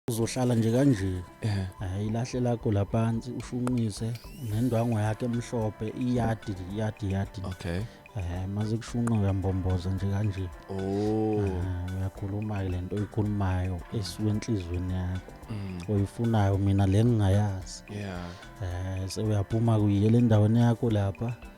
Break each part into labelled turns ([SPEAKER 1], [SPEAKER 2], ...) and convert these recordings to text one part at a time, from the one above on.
[SPEAKER 1] uzohlala nje kanje hayi lahle
[SPEAKER 2] lakho
[SPEAKER 1] laphansi ushunqise nendwango yakhe emhlophe iyadi iyadi iyadi
[SPEAKER 2] okay eh maze
[SPEAKER 1] kushunqa uyambomboza nje kanje oh
[SPEAKER 2] uyakhuluma
[SPEAKER 1] ke lento oyikhulumayo esuke enhlizweni yakho mm. oyifunayo
[SPEAKER 2] mina
[SPEAKER 1] le ngingayazi yeah eh
[SPEAKER 2] sewuyaphuma kuyile
[SPEAKER 1] endaweni yakho lapha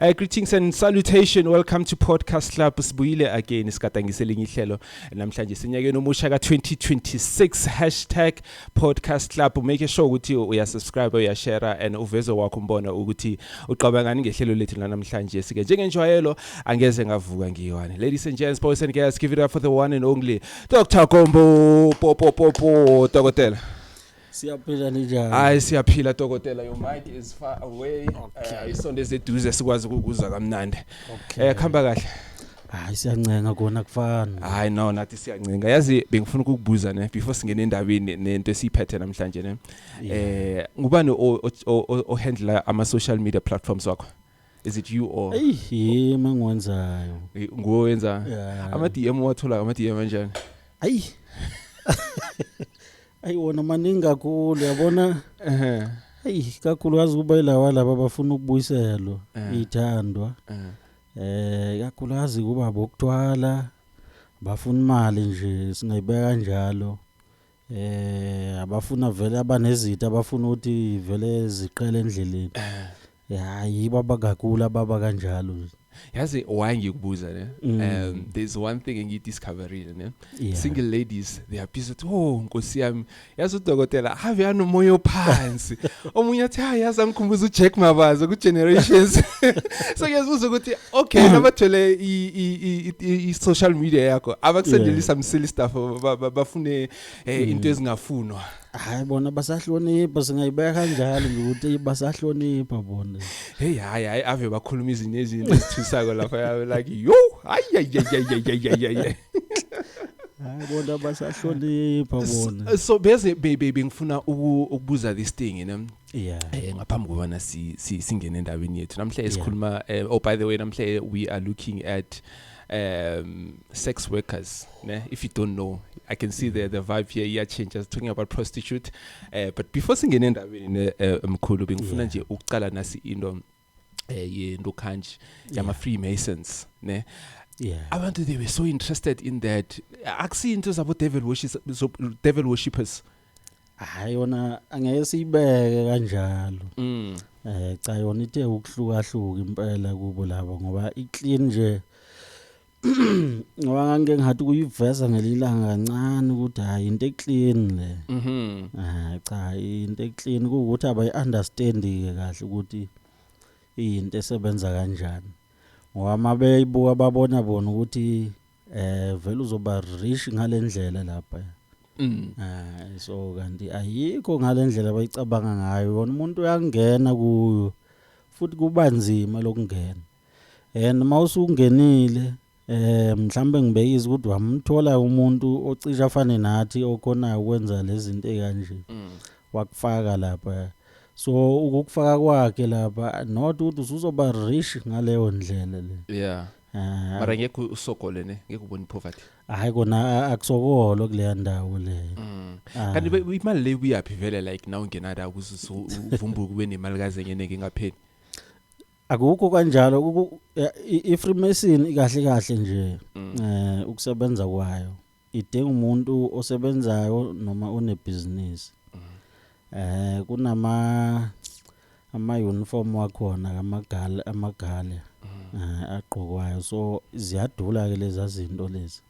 [SPEAKER 2] Uh, greetings and salutation welcome to podcast club sibuyile again sigadangise elinye ihlelo namhlanje sinyakeni omusha ka-2026 hashtag podcast club make sure ukuthi uyasubscribe uyashare and uveze wakho umbona ukuthi uqabangani ngehlelo lethu lanamhlanje sike njengenjwayelo angeze ngavuka ngiywane ladies and gents boys and girls give it up for the one and only dr gombo popopopo dokotela Siyaphila
[SPEAKER 1] ninjani? Hayi siyaphila
[SPEAKER 2] dokotela your mic is far away. Okay. Uh, isondeze eduze sikwazi ukukuza kamnandi. Okay. Eh khamba kahle. Hayi siyancenga
[SPEAKER 1] kona kufana. Hayi no nathi
[SPEAKER 2] siyancenga. Yazi bengifuna ukukubuza ne before singene endabeni nento esiphethe namhlanje ne. Eh ngubani o handle ama social media platforms wakho? is it you or eyi mangiwenzayo
[SPEAKER 1] nguwe wenza
[SPEAKER 2] yeah. ama DM wathola ama DM kanjani ayi
[SPEAKER 1] ayi wona maningi kakhulu yabona ehe ayi kakhulu wazi kuba ilawa laba abafuna ukubuyiselwa Eh. ithandwa ehe. eh kakhulu wazi kuba bokuthwala bafuna imali nje singayibeka kanjalo eh abafuna vele abanezitha abafuna ukuthi vele ziqele endleleni eh hayi baba kakula baba kanjalo nje yazi why
[SPEAKER 2] ngikubuza ne mm. um there's one thing engidiscoverile ne yeah. single ladies they are busy oh nkosi yami yazi udokotela have yana umoya ophansi omunye athi hayi yazi angikhumbuza uJack Mabaza ku generations so ngiyazibuza ukuthi okay nabathole i- i- i- i- i-social media yakho abakusendele Yeah. some silly stuff ba- ba- bafune eh, into ezingafunwa hayi bona
[SPEAKER 1] basahlonipha singayibeka kanjalo nje ukuthi basahlonipha bona heyi hayi hayi
[SPEAKER 2] ave bakhuluma izinto ezinto ezithusako lapha yabe like yo ayayayayayayayay
[SPEAKER 1] hayi bona basahlonipha bona so bese be- be-
[SPEAKER 2] bengifuna uku- ukubuza this thing you know yeah eh ngaphambi kobana si singene endaweni yethu namhlanje sikhuluma eh, oh by the way namhlanje we are looking at um sex workers ne if you don't know i can see the the vibe here yeah change us talking about prostitute uh, but before singene endabeni ne eh, mkhulu bengifuna nje ukuqala nasi into eh yento kanji yama freemasons ne yeah abantu they were so interested in that akusinto zabo devil worshippers devil worshippers hayi
[SPEAKER 1] yona angeke siyibeke kanjalo mm eh cha yona ithe ukuhlukahluka impela kubo labo ngoba iclean nje ngoba ngangike ngihathi ukuyiveza ngelinye ilanga kancane ukuthi hhayi into eclean le Mhm. Ah, cha into eclean kuwukuthi abayi-understandi-ke kahle ukuthi iyinto esebenza kanjani ngoba uma beyibuka babona bona ukuthi eh vele uzoba rich ngale ndlela lapha Mm. Ah, so kanti ayikho ngale ndlela abayicabanga ngayo yona umuntu uyangena kuyo futhi kuba nzima lokungena and uma usungenile eh mhlambe ngibekise ukuthi wamthola umuntu ocisha afane nathi okhonayo ukwenza lezinto ekanje mm. wakufaka lapha so ukukufaka kwakhe lapha not ukuthi usuzoba rich ngaleyo ndlela le yeah ah. mara
[SPEAKER 2] ngeke usogole ne ngeke ubone poverty hayi kona
[SPEAKER 1] akusokolo kuleya ndawo le mm. ah. kanti
[SPEAKER 2] imali le kuyaphi vele like now ungenada ukuthi uvumbuke ube nemali kaze ngeneke ngapheli
[SPEAKER 1] Akukho kanjalo iFreemason ikahle kahle nje mm. eh ukusebenza kwayo idinga umuntu osebenzayo noma onebhizinisi mm. eh kunama ama uniform wakhona kamagale amagale mm. eh, agqokwayo so ziyadula ke lezi zinto lezi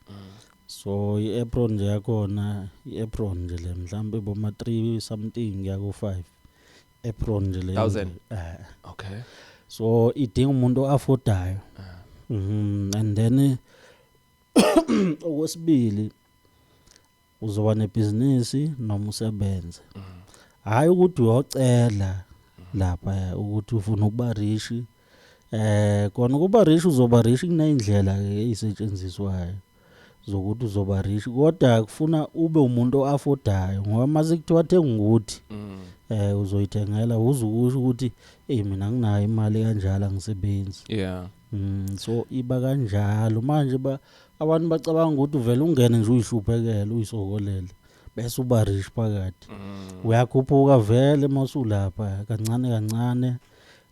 [SPEAKER 1] so i-apron nje yakhona i-apron nje le mhlawumbe boma-three something yaku-five apron nje leyo Thousand.
[SPEAKER 2] nje. Eh, okay
[SPEAKER 1] so idinga umuntu oaffordayo Mhm, and then eh, okwesibili uzoba nebhizinisi noma usebenze hayi ukuthi uyocela lapha ukuthi ufuna ukuba rishi eh kona ukuba rich uzoba rich kuneyindlela ke ezisetshenziswayo zokuthi uzoba rich kodwa kufuna ube umuntu oaffordayo ngoba mase kuthiwa thenga ukuthi mm. eh uzoyithengela uzukusho ukuthi hey mina nginayo imali kanjalo angisebenzi yeah mm so iba kanjalo manje ba abantu bacabanga ukuthi uvela ungene nje uyihluphekele uyisokolele bese uba rich phakathi mm. uyakhuphuka vele masulapha kancane kancane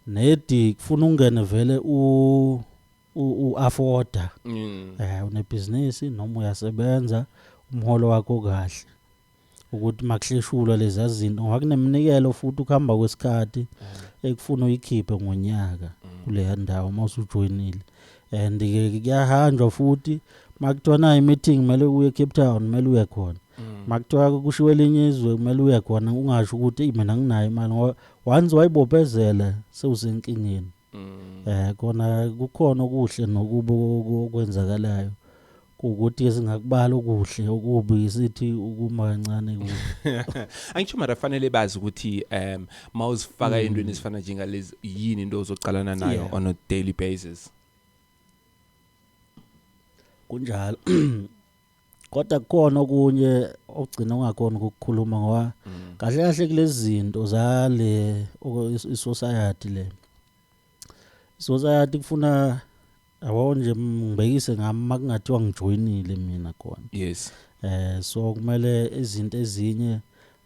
[SPEAKER 1] Nedi kufuna ungene vele u u afforda. Mm. Eh unebhizinisi noma uyasebenza umholo wakho kahle. Ukuthi makuhleshulwa lezi zinto ngoba kuneminikelo futhi ukuhamba kwesikhathi mm. ekufuna uyikhiphe ngonyaka mm. kuleya ndawo uma usujoyinile. And ke kuyahanjwa futhi makuthiwa nayi meeting kumele uye Cape Town kumele uye khona. Mm. makuthiwa kushiwo elinye izwe kumele uye khona ungasho ukuthi mina nginayo imali ngoba once wayibophezela sewusenkingeni eh kona kukhona okuhle nokubi okwenzakalayo ukuthi singakubala okuhle okubi sithi ukuma kancane kubi angisho
[SPEAKER 2] mara fanele bazi ukuthi um mawuzifaka mm. entweni ezifana njengalezi yini into ozoqalana nayo on a daily basis
[SPEAKER 1] kunjalo kodwa kukhona okunye ogcina ungakoni ukukhuluma ngoba mm. kahle kahle kulezinto zale isociety le isociety kufuna yabo nje ngibekise ngami makungathiwa ngijoyinile mina khona yes eh
[SPEAKER 2] so
[SPEAKER 1] kumele izinto ezinye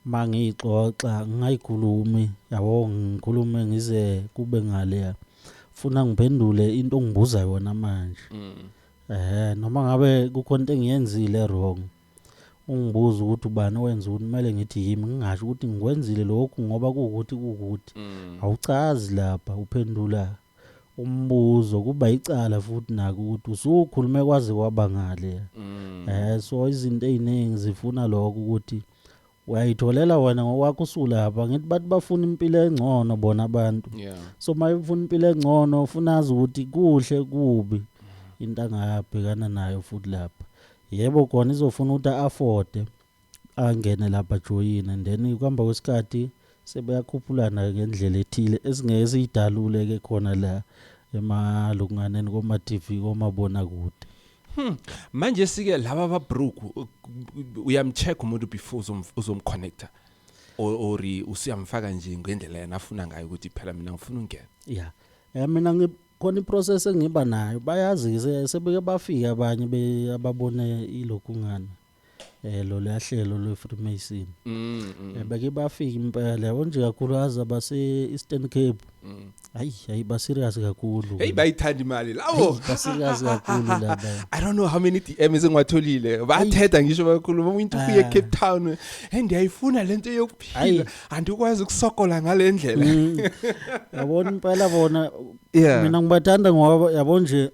[SPEAKER 1] mangiyixoxa ngingayikhulumi yabo ngikhulume ngize kube ngale funa ngiphendule into ongibuza yona manje mm. Eh noma ngabe kukhona into engiyenzile wrong. Ungibuza ukuthi ubani owenza ukuthi kumele ngithi yimi ngingasho ukuthi ngikwenzile lokhu ngoba kuwukuthi kuwukuthi. Mm. Awucazi lapha uphendula umbuzo kuba icala futhi naku ukuthi usukhulume kwaze kwabangale. Mm. Eh so izinto eziningi zifuna lokho ukuthi uyayitholela wena ngokwakho usulapha ngithi bathi bafuna impilo engcono bona abantu yeah. so uma ufuna impilo engcono ufuna azi ukuthi kuhle kubi into angabhekana nayo futhi lapha yebo kona izofuna ukuthi afode angene lapha joyine and then kuhamba kwesikhathi sebeyakhuphulana ngendlela ethile esingeke siyidalule ke khona la emalukunganeni koma-TV komabonakude Hmm. Manje
[SPEAKER 2] sike laba ba broke uyamcheck umuntu before uzomconnecta or usiyamfaka nje ngendlela yena afuna ngayo ukuthi phela mina ngifuna ungena. Yeah. Eh mina
[SPEAKER 1] ngikhona iprocess engiba nayo bayazi sebeke bafika abanye ababone ilokhu ngana. eh lo lahlelo lwe Freemason mm, mm. Eh, bake bafika impela yabo nje kakhulu aza base Eastern Cape mm. hayi hayi ba serious kakhulu hey bayithanda imali
[SPEAKER 2] lawo ba serious kakhulu
[SPEAKER 1] laba i don't know how many
[SPEAKER 2] DMs engiwatholile bathetha ngisho bakhuluma umuntu uye ah. Cape Town and ayifuna lento yokuphila andikwazi ukusokola ngalendlela mm.
[SPEAKER 1] yabona impela bona mina ngibathanda ngoba yabo nje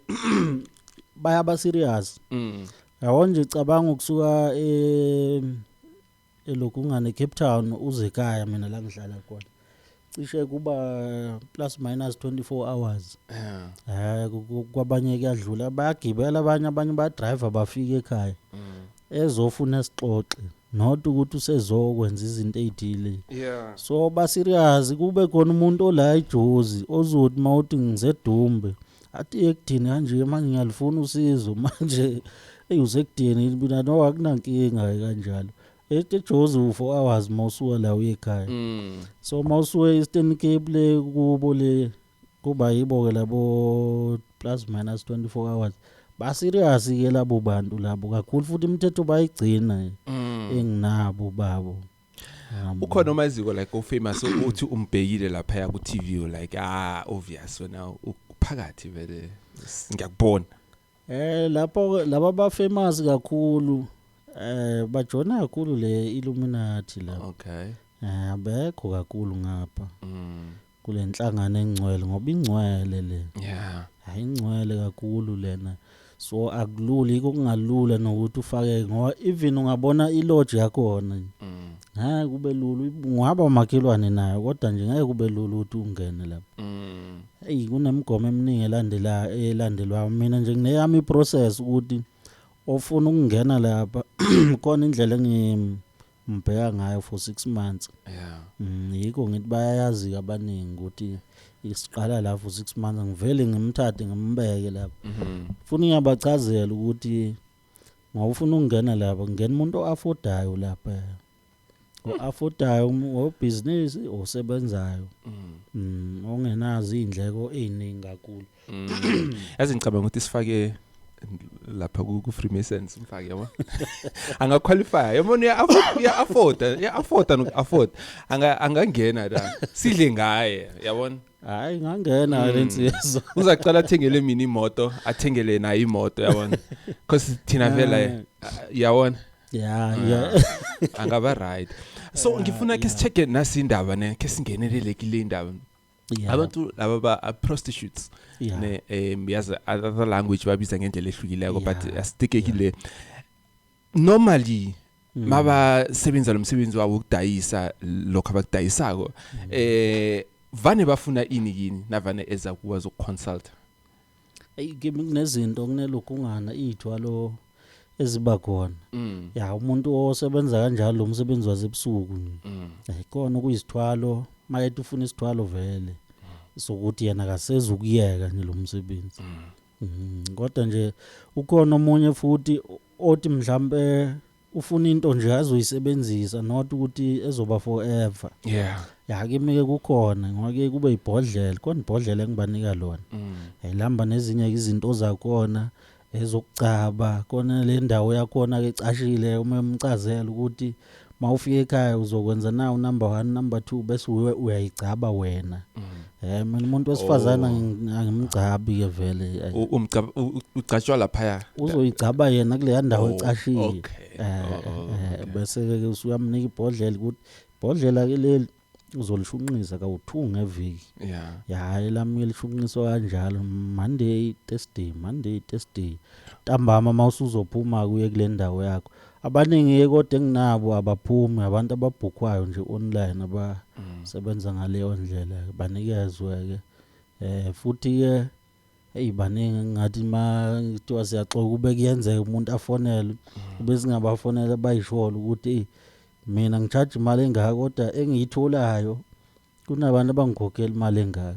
[SPEAKER 1] bayaba serious mm Yabo nje cabanga ukusuka e elokhu ungane eCape Town uze ekhaya mina la ngihlala khona. Cishe kuba plus minus 24 hours. Yeah. Eh ku- ku- kwabanye kuyadlula bayagibela abanye abanye badrive bafike ekhaya. Mm. Ezofuna isixoxe not ukuthi usezokwenza izinto ezithile. Yeah. So ba serious kube khona umuntu ola ijozi ozothi mawuthi ngizedumbe athi ekudini kanje manje ngiyalifuna usizo manje eyi usekudini mina no akunankinga kanjalo ethi ejozi u-four hours uma usuka la uye ekhaya mm. so uma usuke eastern cape le kubo le kuba yibo-ke labo plus minus 24 hours baserious ke labo bantu labo kakhulu futhi imithetho bayigcina mm. enginabo babo ukhona
[SPEAKER 2] omaziko like ofamous uthi umbhekile lapha ya ku TV u like ah obvious wena uphakathi vele ngiyakubona eh
[SPEAKER 1] lapho laba ba famous kakhulu eh bajona kakhulu le Illuminati la okay eh abekho kakhulu ngapha mm kule nhlangano engcwele ngoba ingcwele le yeah hayi ingcwele kakhulu lena so akulula yiko kungalula nokuthi ufake ngoba even ungabona ilodge yakhona mm. ngeke kube lula ungaba umakhelwane nayo kodwa nje ngeke kube lula ukuthi ungene lapho mm. eyi kunemigomo eminingi elandela elandelwayo mina nje ngineyami iprocess ukuthi ofuna ukungena lapha khona indlela engi Ngibheka ngayo for 6 months. Yeah. Mm, yikho ngithi bayayazi ke abaningi ukuthi isiqala la for 6 months ngivele ngimthathe ngimbeke lapha. Mhm. Funa ngiyabachazela ukuthi ngawufuna ukungena lapha ngena umuntu oaffordayo lapha. Oaffordayo obhizinisi osebenzayo. Mm. Mm, ongenazo izindleko eziningi kakhulu. Mm. yazi
[SPEAKER 2] ngicabanga ukuthi sifake lapha ku Freemasons mfake yabo anga qualify yabo ni afford ya afford ya afford no afford anga angangena la sidle ngaye yabona hayi ngangena
[SPEAKER 1] mm. lensizwa uzaqala athengele
[SPEAKER 2] mina imoto athengele nayo imoto yabona because thina vela eh, yabona yeah ah,
[SPEAKER 1] yeah angaba
[SPEAKER 2] right so ngifuna ke sicheke nasi indaba ne ke singenelele kule indaba yeah. abantu laba ba uh, prostitutes yeah. ne um yazi other language babiza ngendlela ehlukileko yeah. but astikekile yeah. normally mm. maba sebenza lo msebenzi wabo ukudayisa lokho abakudayisako mm. eh vane bafuna ini yini navane eza kuwa zokuconsulta eyi
[SPEAKER 1] kimi kunezinto kunelokungana iy'thwalo eziba khona mm. ya umuntu osebenza kanjalo lo msebenzi wasebusuku mm. eh, kona okuyisithwalo mayethi ufuna isithwalo vele mm. sokuthi yena akasezi ukuyeka nje lo msebenzi mm. mm. kodwa nje ukhona omunye futhi othi mhlawumbe ufuna into nje azoyisebenzisa not ukuthi ezoba forever yeah ya kimi ke kukhona ngoba ke kube ibhodlela khona ibhodlela engibanika lona mm. yayilamba nezinye izinto zakona ezokugcaba kona le ndawo yakhona ke cashile uma emcazela ukuthi mawufika ekhaya uzokwenza na unumber 1 number 2 bese uyayigcaba wena mm. Eh mina umuntu wesifazana ngi- angimgcabi ke vele. Ay, U- umgcab- u- u- ugcatshwa
[SPEAKER 2] laphaya Uzoyigcaba yena
[SPEAKER 1] kuleya ndawo Oh, ecashile. okay. Eh, Oh, oh, eh, okay. bese ke usuyamnika ibhodlela ukuthi ibhodlela ke leli uzolishunqisa kawuthu ngeviki. yeah Ya elami elishunqiswa kanjalo Monday Thursday, Monday Thursday. Ntambama mawusuzophuma kuye kule ndawo yakho. Abaningi ke kodwa enginabo abaphumi abantu ababhukhwayo nje online abasebenza ngaleyo ndlela ke banikezwe ke eh futhi ke hey baningi ngathi ma kuthiwa siyaxoka ube kuyenzeka umuntu afonele ube singabafonela bayisholo ukuthi mina ngicharge imali engaka kodwa engiyitholayo kunabantu abangikhokhela imali engaka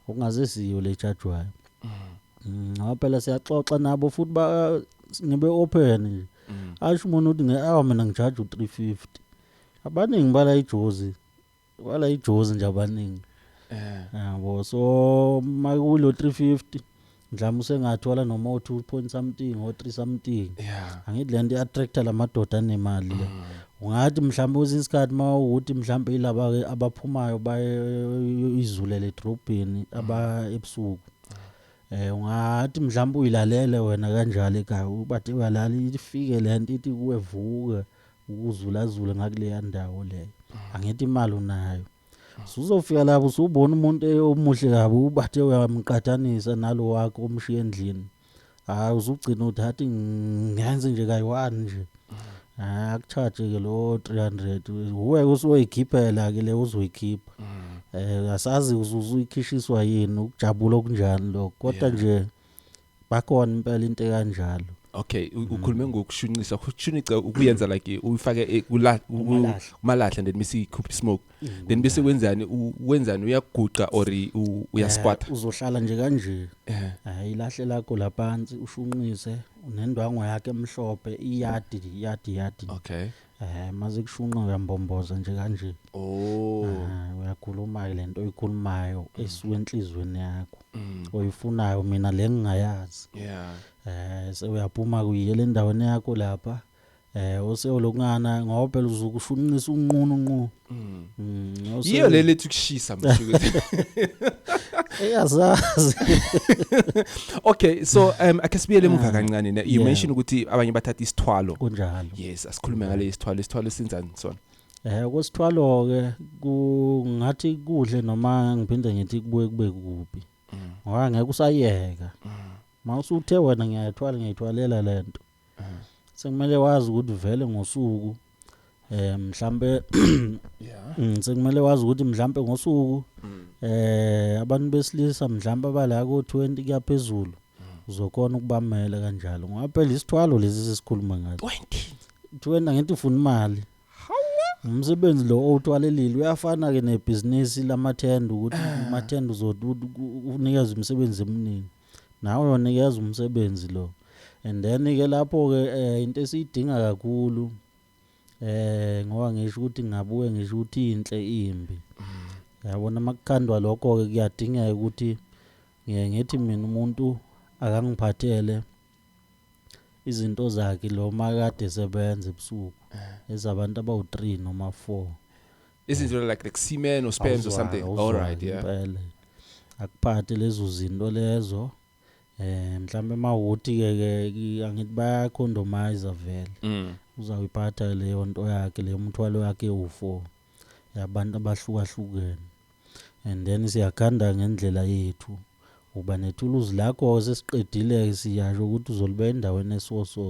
[SPEAKER 1] okungazisiyo le chargewayo Mm, ngoba phela siyaxoxa nabo futhi ba ngibe open nje Mm. asho umuntu ukuthi nge awu mina ngijaje u350 abaningi bala ijozi bala ijozi nje abaningi Eh. yabo so makulo 350 mhlawumbe usengathola noma o-two point something o-three something yeah angithi le nto i-attracta la madoda anemali le ungathi mhlawumbe kwesinye isikhathi uma ukuthi mhlawumbe yilaba-ke abaphumayo baye izulele edrobheni aba ebusuku um ungathi mhlawumbe uyilalele wena kanjalo ekhaya ubathe uyalala ifike le nto ithi kuwe vuka ukuzulazule ngakuleya ndawo leyo angithi imali unayo Suzofika lapho usubona umuntu omuhle kabi ubathe uyamqathanisa nalo wakho omshiya endlini. Hayi uzugcina uthi hathi ngenze nje kayi-one nje. Hayi akucharge ke lo 300 uwe usuyoyikhiphela ke le uzoyikhipha. Eh asazi uzuyikhishiswa yini ukujabula okunjani lokho kodwa nje Bakhona impela into ekanjalo. Okay, u- Mm. ukhulume
[SPEAKER 2] ngokushunqisa. Ukushunqisa ukuyenza like uyifake e- kula- ku- Kumalahle. Mm. kumalahle and then bese ikhupha ismoke. Then bese wenzani u- wenzani uyaguqa or i- u- uyasquatter. Eh, Uzohlala nje kanje.
[SPEAKER 1] Eh. Hayi lahle lakho laphansi ushunqise nendwango yakhe emhlophe iyadi iyadi iyadi. Okay.
[SPEAKER 2] Eh maze kushunqa
[SPEAKER 1] uyambomboza nje kanje. Oh. Ah, uyakhuluma ke lento oyikhulumayo esuka enhlizweni yakho. Mm. Oyifunayo mina le ngingayazi. Yeah. Eh sewuyaphuma kuyile endaweni yakho lapha. Eh osewulokungana ngoba phela uzukushunqisa unqunu unqunu. Mm.
[SPEAKER 2] Mm, no, so- yiyo le lethi ukushisa mshukuthi
[SPEAKER 1] eyazazi
[SPEAKER 2] okay so um ake sibuyele emuva kancane ne- you Yeah. mentioned ukuthi abanye bathatha isithwalo kunjalo yes
[SPEAKER 1] asikhulume ngale
[SPEAKER 2] isithwalo isithwalo sinjani sona eh kwesithwalo
[SPEAKER 1] ke kungathi kudle noma ngiphinde ngithi kubuye kube kubi ngoba ngeke usayeka mawusuthe wena ngiyayithwala ngiyithwalela lento sekumele wazi ukuthi vele ngosuku eh mhlambe yeah mm, sekumele wazi ukuthi mhlambe ngosuku mm. eh abantu besilisa mhlambe abala ko 20 kuyaphezulu mm. uzokona ukubamela kanjalo ngoba phela isithwalo lesi sesikhuluma ngathi 20 20 ngithi ufuna imali umsebenzi lo owuthwalelile uyafana ke nebhizinisi lamathenda ukuthi ah. amathenda uzonikeza imisebenzi eminingi Nawe uyonikeza umsebenzi lo and then ke lapho ke eh, into esiyidinga kakhulu eh ngoba ngisho ukuthi ngabuye ngisho ukuthi inhle imbi yabona makukhandwa lokho ke kuyadingeka ukuthi ngiye ngithi mina umuntu akangiphathele izinto zakhe lo makade sebenza ebusuku ezabantu abawu-3 noma 4 izinto
[SPEAKER 2] like like semen or sperms or something all right yeah impela akuphathe
[SPEAKER 1] lezo zinto lezo eh mhlambe emawoti ke ke angithi baya condomizer vele mm. uzawuyiphatha leyo nto yakhe leyo mthwalo yakhe ufo yabantu abahlukahlukene and then siyakhanda ngendlela yethu Uba nethuluzi lakho sesiqedile siyasho ukuthi uzolibeka endaweni esiwo so.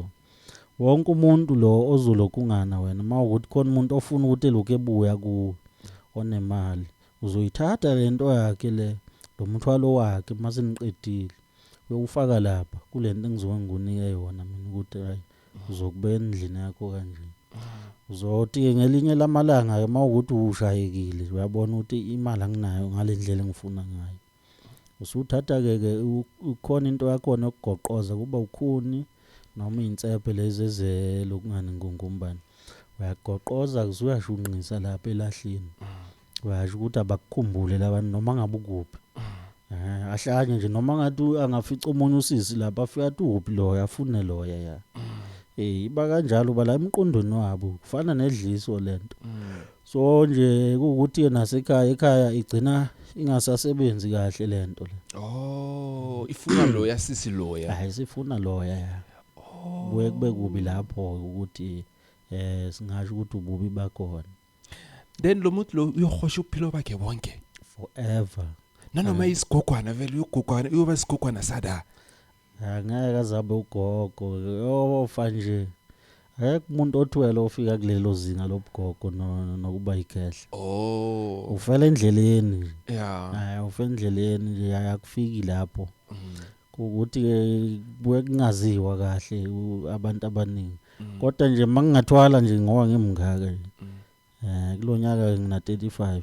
[SPEAKER 1] Wonke umuntu lo ozolokungana wena mawukuthi khona umuntu ofuna ukuthi elokhu ebuya kuwe onemali uzoyithatha lento yakhe le lo mthwalo wakhe mase niqedile uyowufaka lapha kulento engizoke ngikunike yona mina ukuthi hayi uzokubeka endlini yakho kanje uzothi ke ngelinye lamalanga ke mawukuthi ushayekile uyabona ukuthi imali anginayo ngalendlela engifuna ngayo Usuthatha-ke ke ukhona into yakhona yokugoqoza kuba ukhuni noma iy'nsephe lezi ezelokungani ngungumbani. Uyagoqoza-ke usuyashunqisa lapha elahleni. Uyasho ukuthi abakukhumbule labantu noma ngabe ukuphi. Eh, ahlanye nje noma ngathi angafica omunye usisi lapha afika athi uphi loya afune loya ya. Eh iba kanjalo bala emqondweni wabo kufana nedliso lento. so nje kuwukuthi ke nasekhaya ekhaya igcina ingasasebenzi kahle lento le Oh,
[SPEAKER 2] ifuna lo yasisi loya. hayi sifuna loya
[SPEAKER 1] ya Oh. kuye kube kubi lapho ukuthi eh singasho ukuthi ububi bakhona Then
[SPEAKER 2] lo muntu lo uyohosha uphilo bakhe bonke. forever
[SPEAKER 1] Nanoma
[SPEAKER 2] isigogwana vele uyogogwana uyoba isigogwana sada. Angeke
[SPEAKER 1] azabe ugogo yofa nje. Akekho umuntu othwele ofika kulelo zinga lobugogo no- nokuba yikhehla. Oh. Ufela endleleni nje. Yeah. Hayi ufela endleleni nje akufiki lapho. Mm. Ukuthi ke kuye kungaziwa kahle u- abantu abaningi. Mm. Kodwa nje mangingathwala nje ngoba ngimngaka nje. Mm. Eh kulonyaka ngina 35.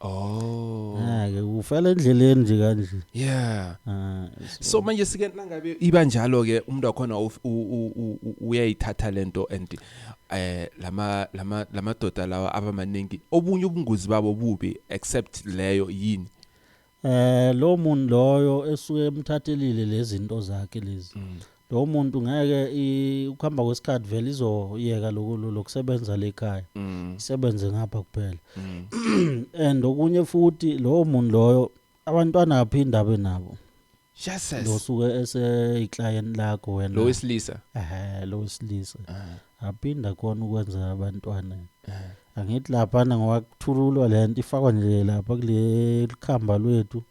[SPEAKER 1] Oh. Hayi ufela endleleni nje kanje. Yeah. Ah.
[SPEAKER 2] So manje sike nangabe iba njalo ke umuntu wakhona uyayithatha lento and eh lama lama lamadoda lawa abamaningi obunye ubungozi babo bubi except leyo yini. Eh
[SPEAKER 1] lo muntu loyo esuke emthathelile lezinto zakhe lezi. Mm. lowo muntu ngeke i- ukuhamba kwesikhathi vele izoyeka loku- lo- lokusebenza lekhaya Mm. isebenze ngapha kuphela Mm. and okunye futhi lowo muntu loyo abantwana aphi indaba nabo Jesus. losuke eseyiclient lakho wena Lo wesilisa. ehe
[SPEAKER 2] lo wesilisa
[SPEAKER 1] Ah. Aphinde akhona ukwenza abantwana. Angithi laphana ngoba kuthululwa le nto ifakwa nje lapha kule likhamba lwethu.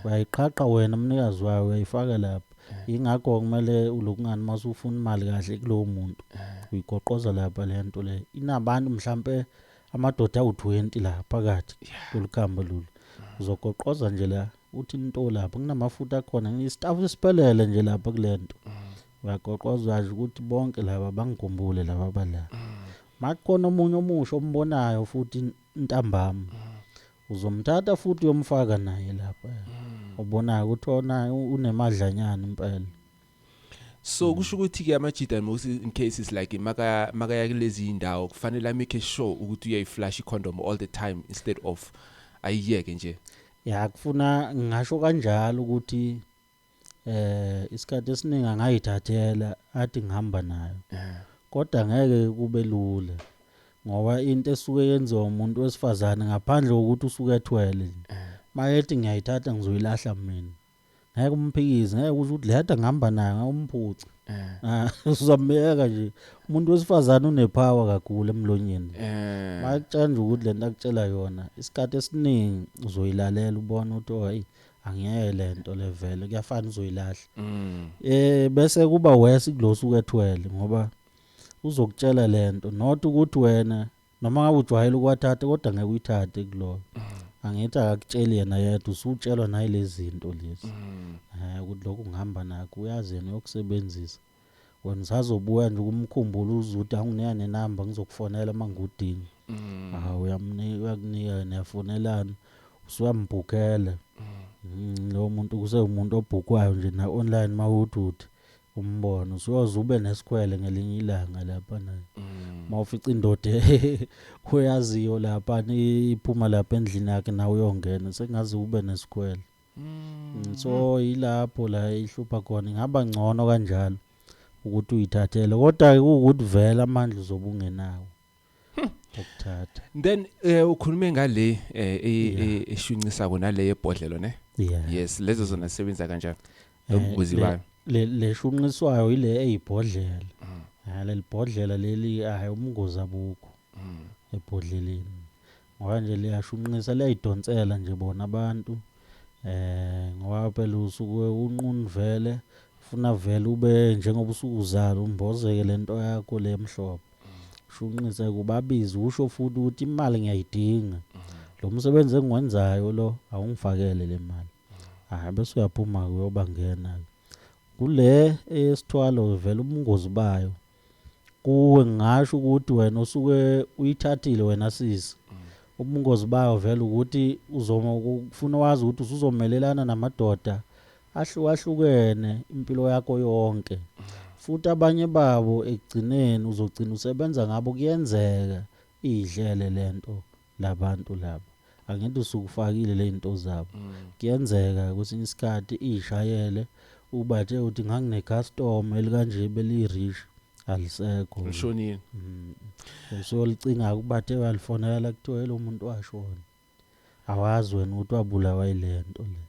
[SPEAKER 1] Uyayiqhaqha wena mnikazi wayo uyayifaka lapha. Yingakho kumele ulokungani uma usufuna imali kahle kulowo muntu. Uyigoqoza lapha le nto le. Inabantu mhlampe amadoda awu-20 la phakathi kulukhamba lolu. Uzogoqoza nje la uthi into lapha kunamafutha akhona istaff siphelele nje lapha kule nto. Ngagoqwa uzwazi ukuthi bonke laba bangikhumbule laba abala. Makukhona omunye omusha ombonayo futhi ntambama. Uzomthatha futhi uyomfaka naye lapha. Ubonayo ukuthi ona unemadlanyana impela.
[SPEAKER 2] So mm. kusho ukuthi ke amajida most in cases like maka makaya kulezi indawo kufanele amake sure ukuthi uyayiflash icondom all the time instead of ayiyeke nje. Ya kufuna
[SPEAKER 1] ngisho kanjalo ukuthi eh isikhathi esiningi angayithathela athi ngihamba nayo eh. kodwa ngeke kube lula ngoba into esuke yenziwa umuntu wesifazane ngaphandle kokuthi usuke ethwele eh. mayethi ngiyayithatha ngizoyilahla mina ngeke umphikize ngeke usho ukuthi lehada ngihamba nayo ngawumphuca eh. ah, uzamyeka nje umuntu wesifazane unepower kakhulu emlonyeni makutshela nje ukuthi lento akutshela yona isikhathi esiningi uzoyilalela ubona ukuthi oh, hayi angiyeke lento le vele kuyafana uzoyilahla mm. eh bese kuba worse kulosu kwethwele ngoba uzokutshela lento not ukuthi wena noma ngabe ujwayele ukwathatha kodwa ngeke uyithathe kuloyo mm. angithi akakutsheli yena yedwa usutshelwa nayilezinto lezi mm. eh ukuthi lokho ngihamba nakho uyazi yena uyokusebenzisa Wena usazobuya nje ukumkhumbula uzuthi anginika nenamba ngizokufonela uma ngiwudinga. Mm. Ah uyamnika uyakunika niyafonelana usuyambhukela. Mm. Lo muntu kuse umuntu obhukwayo nje na online mawuthi uthi umbona usuyoze ube nesikhwele ngelinye ilanga lapha naye. Mm. Mawufica indoda oyaziyo lapha iphuma lapha endlini yakhe nawe uyongena sengazi ube nesikhwele. Mm, so yilapho la ihlupha khona ingaba ngcono kanjalo ukuthi uyithathele kodwa ke ukuthi vela amandla uzobungenawo hmm. ukuthatha then
[SPEAKER 2] eh ukhulume ngale eh, e, e, eshuncisa kona le yebhodlelo ne yes lezo zona sebenza kanjani eh, lokubuzi bayo le leshunqiswayo
[SPEAKER 1] ile eyibhodlela mm. ha lelibhodlela leli hayi umngozi abukho mm. ebhodleleni Ngoba nje liyashunqisa liyayidonsela nje bona abantu eh ngoba phela usuke unqunvele funa vele ube njengoba usukuzala umbozeke lento yakho lemhlobo shunqise kubabizi usho futhi ukuthi imali ngiyayidinga lo msebenzi engiwenzayo lo awungifakele le mali hayi bese uyaphuma kuyoba ngena kule esithwalo vele ubungozi bayo kuwe ngingasho ukuthi wena usuke uyithathile wena sisi mm. ubungozi bayo vele ukuthi uzoma ukufuna wazi ukuthi usuzomelelana namadoda ahlukahlukene impilo yakho yonke mm. futhi abanye babo ekugcineni uzogcina usebenza ngabo kuyenzeka idlele lento labantu laba angithi usukufakile lezinto zabo mm. kuyenzeka kwesinye isikhathi ishayele ubathe uthi ngangine customer elikanje beli rich alisekho ushonile
[SPEAKER 2] mm. so
[SPEAKER 1] licinga kubathe walifonela kuthiwa lo muntu washona awazi wena ukuthi wabulawa ilento le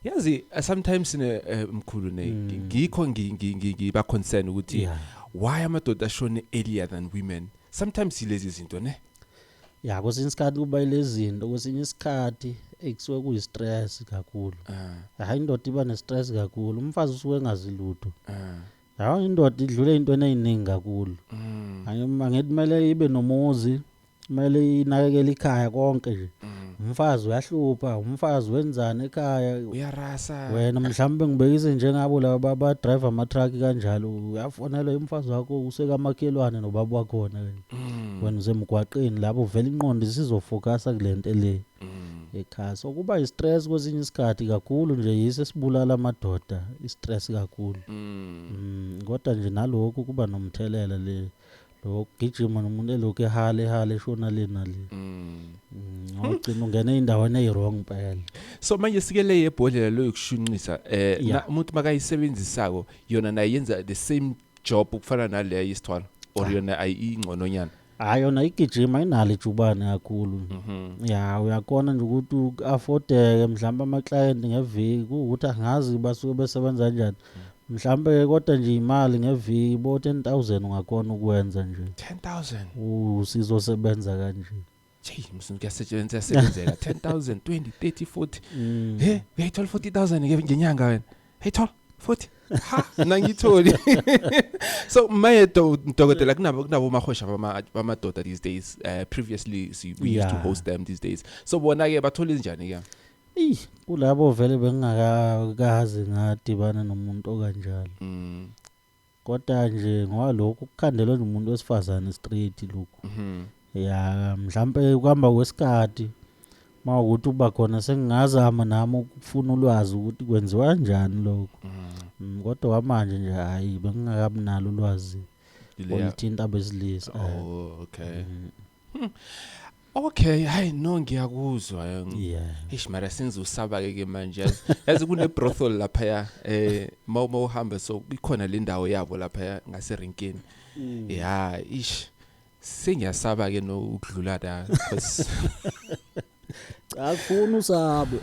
[SPEAKER 1] yazi uh,
[SPEAKER 2] sometimes ne eh, mkhulu ne mm. ngikho ngiba concern ukuthi why amadoda ashone earlier than women sometimes ilezi zinto ne ya kwesinye
[SPEAKER 1] isikhathi kuba ilezinto kwesinye isikhathi ekusuke kuyi-stress kakhulu ah. hayi indoda iba ne-stress kakhulu umfazi usuke engazi lutho ah. hawa indoda idlule intweni eyiningi kakhulu mm. angithi kumele ibe nomuzi kumele inakekele ikhaya konke nje mm. umfazi uyahlupha umfazi wenzani ekhaya uyarasa wena
[SPEAKER 2] mhlawumbe
[SPEAKER 1] ngibekise njengabo laba badrive ama-truck kanjalo uyafonelwa umfazi wakho usekamakhelwane nobaba wakhona kanje Mm. wena usemgwaqeni lapho uvela inqondo isizofokasa kule nto le Mm. ekhaya so kuba i-stress kwesinye isikhathi kakhulu nje yiso esibulala amadoda i-stress kakhulu Mm. Mm, kodwa nje nalokhu kuba nomthelela le lokugijima nomuntu elokhu ehala ehala eshona le nale Mm. Mm, ngawugcina ungena ey'ndaweni eyi-wrong mpela so manje sike
[SPEAKER 2] le yebhodlela loyokushunqisa eh Yeah. na- umuntu makayisebenzisako yona naye yenza the same job ukufana naleya yesithwala or yona ayingcononyana hayi yona
[SPEAKER 1] igijima inalo ijubane kakhulu ya uyakona nje ukuthi u-afodeke mhlawumbe amaklayenti ngeviki kuwukuthi angazi basuke besebenza kanjani mhlawumbe-ke kodwa nje imali ngeviki bo-ten thousand ungakona ukwenza nje 10000
[SPEAKER 2] usizosebenza
[SPEAKER 1] kanje Jeyi msunu
[SPEAKER 2] kuyasetshenziswa yasebenzeka 10000 20 30 40 Mm. he uyayithola 40000 nge- ngenyanga wena ayithola 40 ha nangitholi so maye do- dokotela kunabo kunabo mahosha bama- bamadoda these days uh, previously si- we used to Yeah. host them these days so bona ke bathola izinjani ke Ey, kulabo
[SPEAKER 1] vele bengingakazi ngadibana nomuntu okanjalo. Mm. Koda nje ngoba lokhu kukhandelwe nje umuntu wesifazane straight lokhu. Mhm. Ya mhlambe kuhamba kwesikhathi mawukuthi uba khona sengingazama nami ukufuna ulwazi ukuthi kwenziwa kanjani lokho. Mm, Kodwa kwamanje nje hayi bengingakabi nalo ulwazi Ileya- olithinta abesilisa. Oh, okay. Mm.
[SPEAKER 2] Hmm. Okay, hayi no ngiyakuzwa. Yeah. Eish mara senze usaba ke manje. Yazi kune brothel lapha ya eh mawuma uhamba so ikhona le ndawo yabo lapha ya ngase rinkini. Mm. Yeah, ish. Sengiyasaba ke no ukudlula la because cha
[SPEAKER 1] kufuna usabe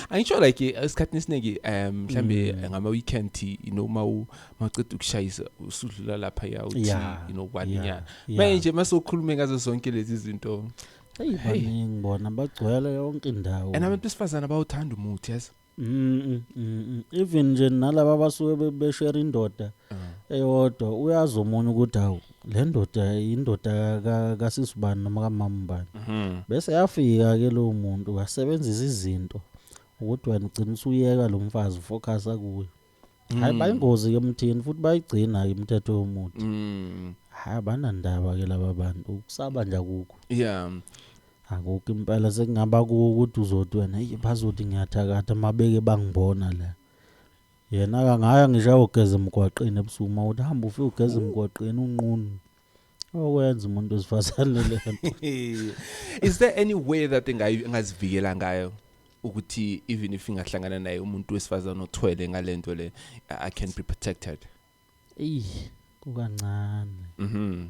[SPEAKER 2] angisho like esikhathini esiningi um mhlambe mm. ngama weekend you know mawu maqeda ukushayisa usudlula lapha ya uthi you know kwaninyana manje masokhulume ngazo zonke lezi zinto hey baningi
[SPEAKER 1] bona bagcwele yonke indawo and abantu besifazana
[SPEAKER 2] bawuthanda umuthi yazi
[SPEAKER 1] Mm,
[SPEAKER 2] mm, mm.
[SPEAKER 1] even nje nalaba abasuke be- beshare
[SPEAKER 2] indoda
[SPEAKER 1] eyodwa uyazi omunye ukuthi hawu le ndoda yindoda ka- kasisi bani noma kamama bani Mhm. bese yafika ke lowo muntu wasebenzisa izinto ukuthi wena ugcina usuyeka lo mfazi ufocus akuyo hayi bayingozi ke mthini futhi bayigcina imithetho yomuthi Mm. hayi abanandaba ke laba bantu ukusaba nje akukho Yeah. akukho impela sekungaba kuwo ukuthi uzothi wena "Eyi, bazothi ngiyathakatha mabeke bangibona la yena-ke angaya ngisho ayogeza emgwaqeni ebusuku uma uthi hamba ufike ugeza emgwaqeni unqunu okwenza umuntu wesifazane lento is
[SPEAKER 2] there any way that engazivikela ngayo ukuthi even if ingahlangana naye umuntu wesifazane othwele ngalento le i can be protected eyi kukancane
[SPEAKER 1] mhm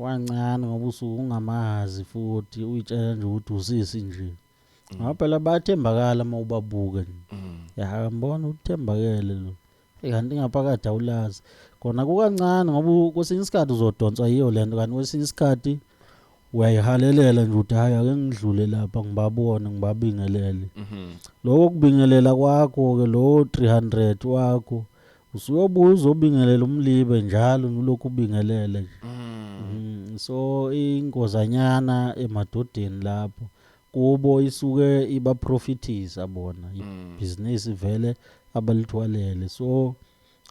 [SPEAKER 1] kwancane ngoba usuke ungamazi futhi uyitshela nje ukuthi usisi nje mm. ngoba phela bayathembakala uma ubabuke nje mm. yahambona uthembakele lo Eh, kanti ngaphakathi awulazi kona kukancane ngoba u- kwesinye isikhathi uzodonswa yiyo le nto kanti kwesinye isikhathi uyayihalelela nje ukuthi hhayi ake ngidlule lapha ngibabone ngibabingelele Mhm. loko kubingelela kwakho-ke lowo 300 wakho usuyobuya uzobingelela umlibe njalo nilokhu ubingelele nje Mm. Mm, so ingozanyana emadodeni lapho kubo isuke ibaprofitisa bona mm. ibhizinisi vele abalithwalele so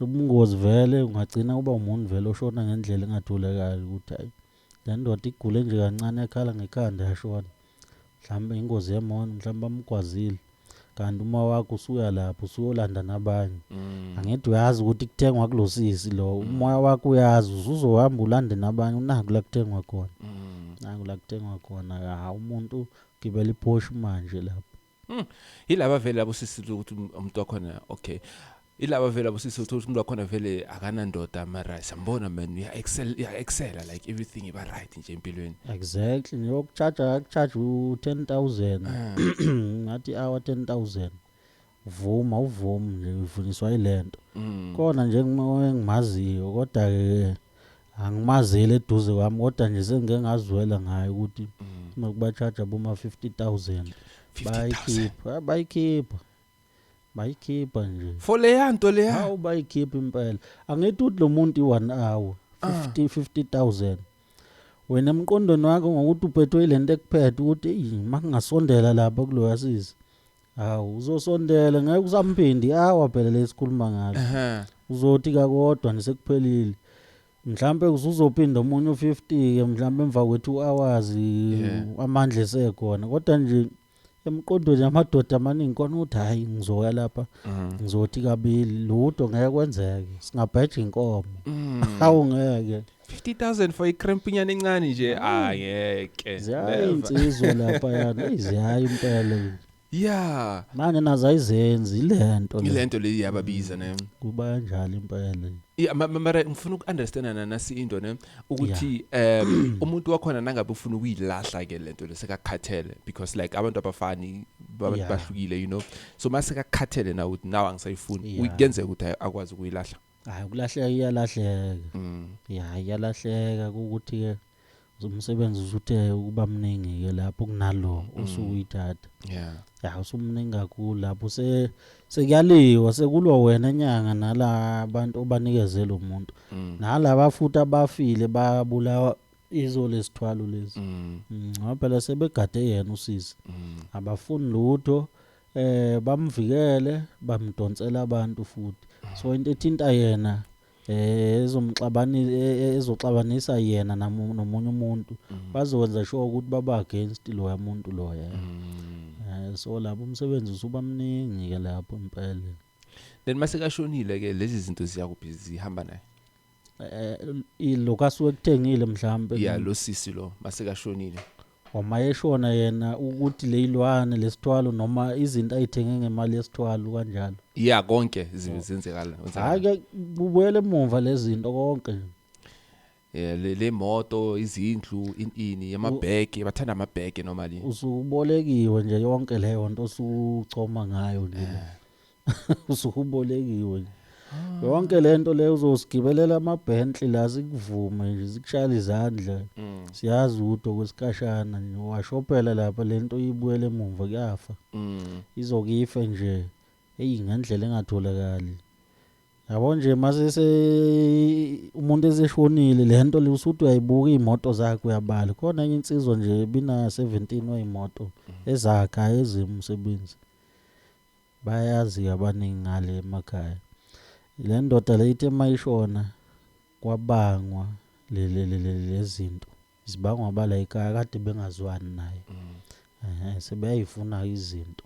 [SPEAKER 1] ubungozi vele ungagcina uba umuntu vele oshona ngendlela engathulekayo ukuthi hayi le ndoda igule nje kancane yakhala ngekhanda yashona mhlawumbe ingozi yemona mhlawumbe bamgwazile kanti uma wakho usuya lapho usuyolanda nabanye mm. angithi uyazi ukuthi kuthengwa kulosisi lo mm. umoya wakho uyazi usuzohamba ulande nabanye unaku la kuthengwa khona mm. naku la kuthengwa khona ha umuntu gibela iposh manje lapho mm. yilaba vele labo
[SPEAKER 2] sisi ukuthi umuntu wakhona okay ilaba vele abusisi uthola umuntu wakhona vele akanandoda mara siyambona man uya excel uya excela like everything iba right nje empilweni exactly
[SPEAKER 1] ngiyokucharge akucharge u10000 ah. ngathi hour 10000 vuma uvuma nje uvuniswa ilento mm. kona nje ngimaziyo kodwa ke angimazeli eduze kwami kodwa nje sengike ngazwela ngayo ukuthi mm. nokuba charge aboma 50000 bayikhipha bayikhipha bayikhipha nje for leya nto leya
[SPEAKER 2] hawu bayikhipha
[SPEAKER 1] impela angithi uthi lo muntu i-one hour 50 50000 wena emqondweni wakho ngokuthi uphethwe ile nto ekuphethe ukuthi eyi uma kungasondela lapha kuloya sisi hawu uzosondela ngeke usamphindi awa phela lesikhuluma ngalo uzothi kakodwa nisekuphelile mhlambe uzophinda omunye u50 ke mhlambe emva kwethu hours amandla esekhona kodwa nje emqondweni amadoda amaningi kona ukuthi hayi ngizoya lapha mm. ngizothi kabili lutho ngeke kwenzeke singabheja inkomo mm. hawu ngeke 50000 for
[SPEAKER 2] ikrempinyana encane nje ayeke ah, ziyayinsizwa
[SPEAKER 1] lapha yana iziyayi impela yeah
[SPEAKER 2] manje nazo
[SPEAKER 1] ayizenzi ilento ilento le yababiza ne
[SPEAKER 2] kuba kanjalo
[SPEAKER 1] impela yeah mara
[SPEAKER 2] ngifuna uku understand nana si into ne ukuthi um umuntu wakhona nangabe ufuna ukuyilahla ke lento lesekakhathele because like abantu abafani abantu Yeah. bahlukile you know so mase kakhathele na ukuthi now angisayifuni Yeah. uyenzeka ukuthi ay- akwazi ukuyilahla hayi ukulahleka
[SPEAKER 1] iyalahleka mm. ya iyalahleka ukuthi-ke umsebenzi usuthe ukuba mningi-ke lapho kunalo osuke uyithatha yeah Ya usumningi kakhulu lapho se sekuyaliwa sekulwa wena nyanga nala bantu obanikezela umuntu. Mm. Nalaba futhi abafile babulawa izo lesithwalo lezi. Mm. Mm, ngoba phela sebegade yena usisi. Mm. Abafuni lutho eh bamvikele bamdonsela abantu futhi. So into ethinta yena eh ezomxabani e- ezoxabanisa yena namu- nomunye umuntu bazokwenza sure ukuthi baba against loya muntu loya Eh, so lapho umsebenzi usuba mningi ke lapho impela then
[SPEAKER 2] masekashonile ke lezi zinto ziyakuphi zihamba naye eh
[SPEAKER 1] ilokasuke kuthengile mhlambe ya lo sisi lo
[SPEAKER 2] masekashonile Wama eshona
[SPEAKER 1] yena ukuthi leyilwane lesithwalo noma izinto ayithenge ngemali yesithwalo kanjalo. Yeah konke zi-
[SPEAKER 2] zenzekala. Hayi ke
[SPEAKER 1] kubuyele emumva lezinto konke nje. Yeah
[SPEAKER 2] le le moto, izindlu, in ini, yamabheke, bathanda amabheke normally. Usubolekiwe
[SPEAKER 1] nje yonke leyo nto osuchoma ngayo nje. usubolekiwe nje ah. yonke lento le uzosigibelela amabhentli la sikuvume nje sikushayela izandla mm. siyazi udo kwesikashana nje washophela lapha lento uyibuyele emuva kuyafa mm. izokife nje eyi ngendlela engatholakali yabo nje masese umuntu eseshonile le nto le usuthi uyayibuka iy'moto zakhe uyabala khona enye insizwa nje bina-seventeen wayimoto mm. ezakha ezimsebenzi Bayazi-ke abaningi ngale emakhaya. Le ndoda le ithe uma ishona kwabangwa lezinto zibangwa abala ekhaya kade bengazwani naye um sebeyayifuna izinto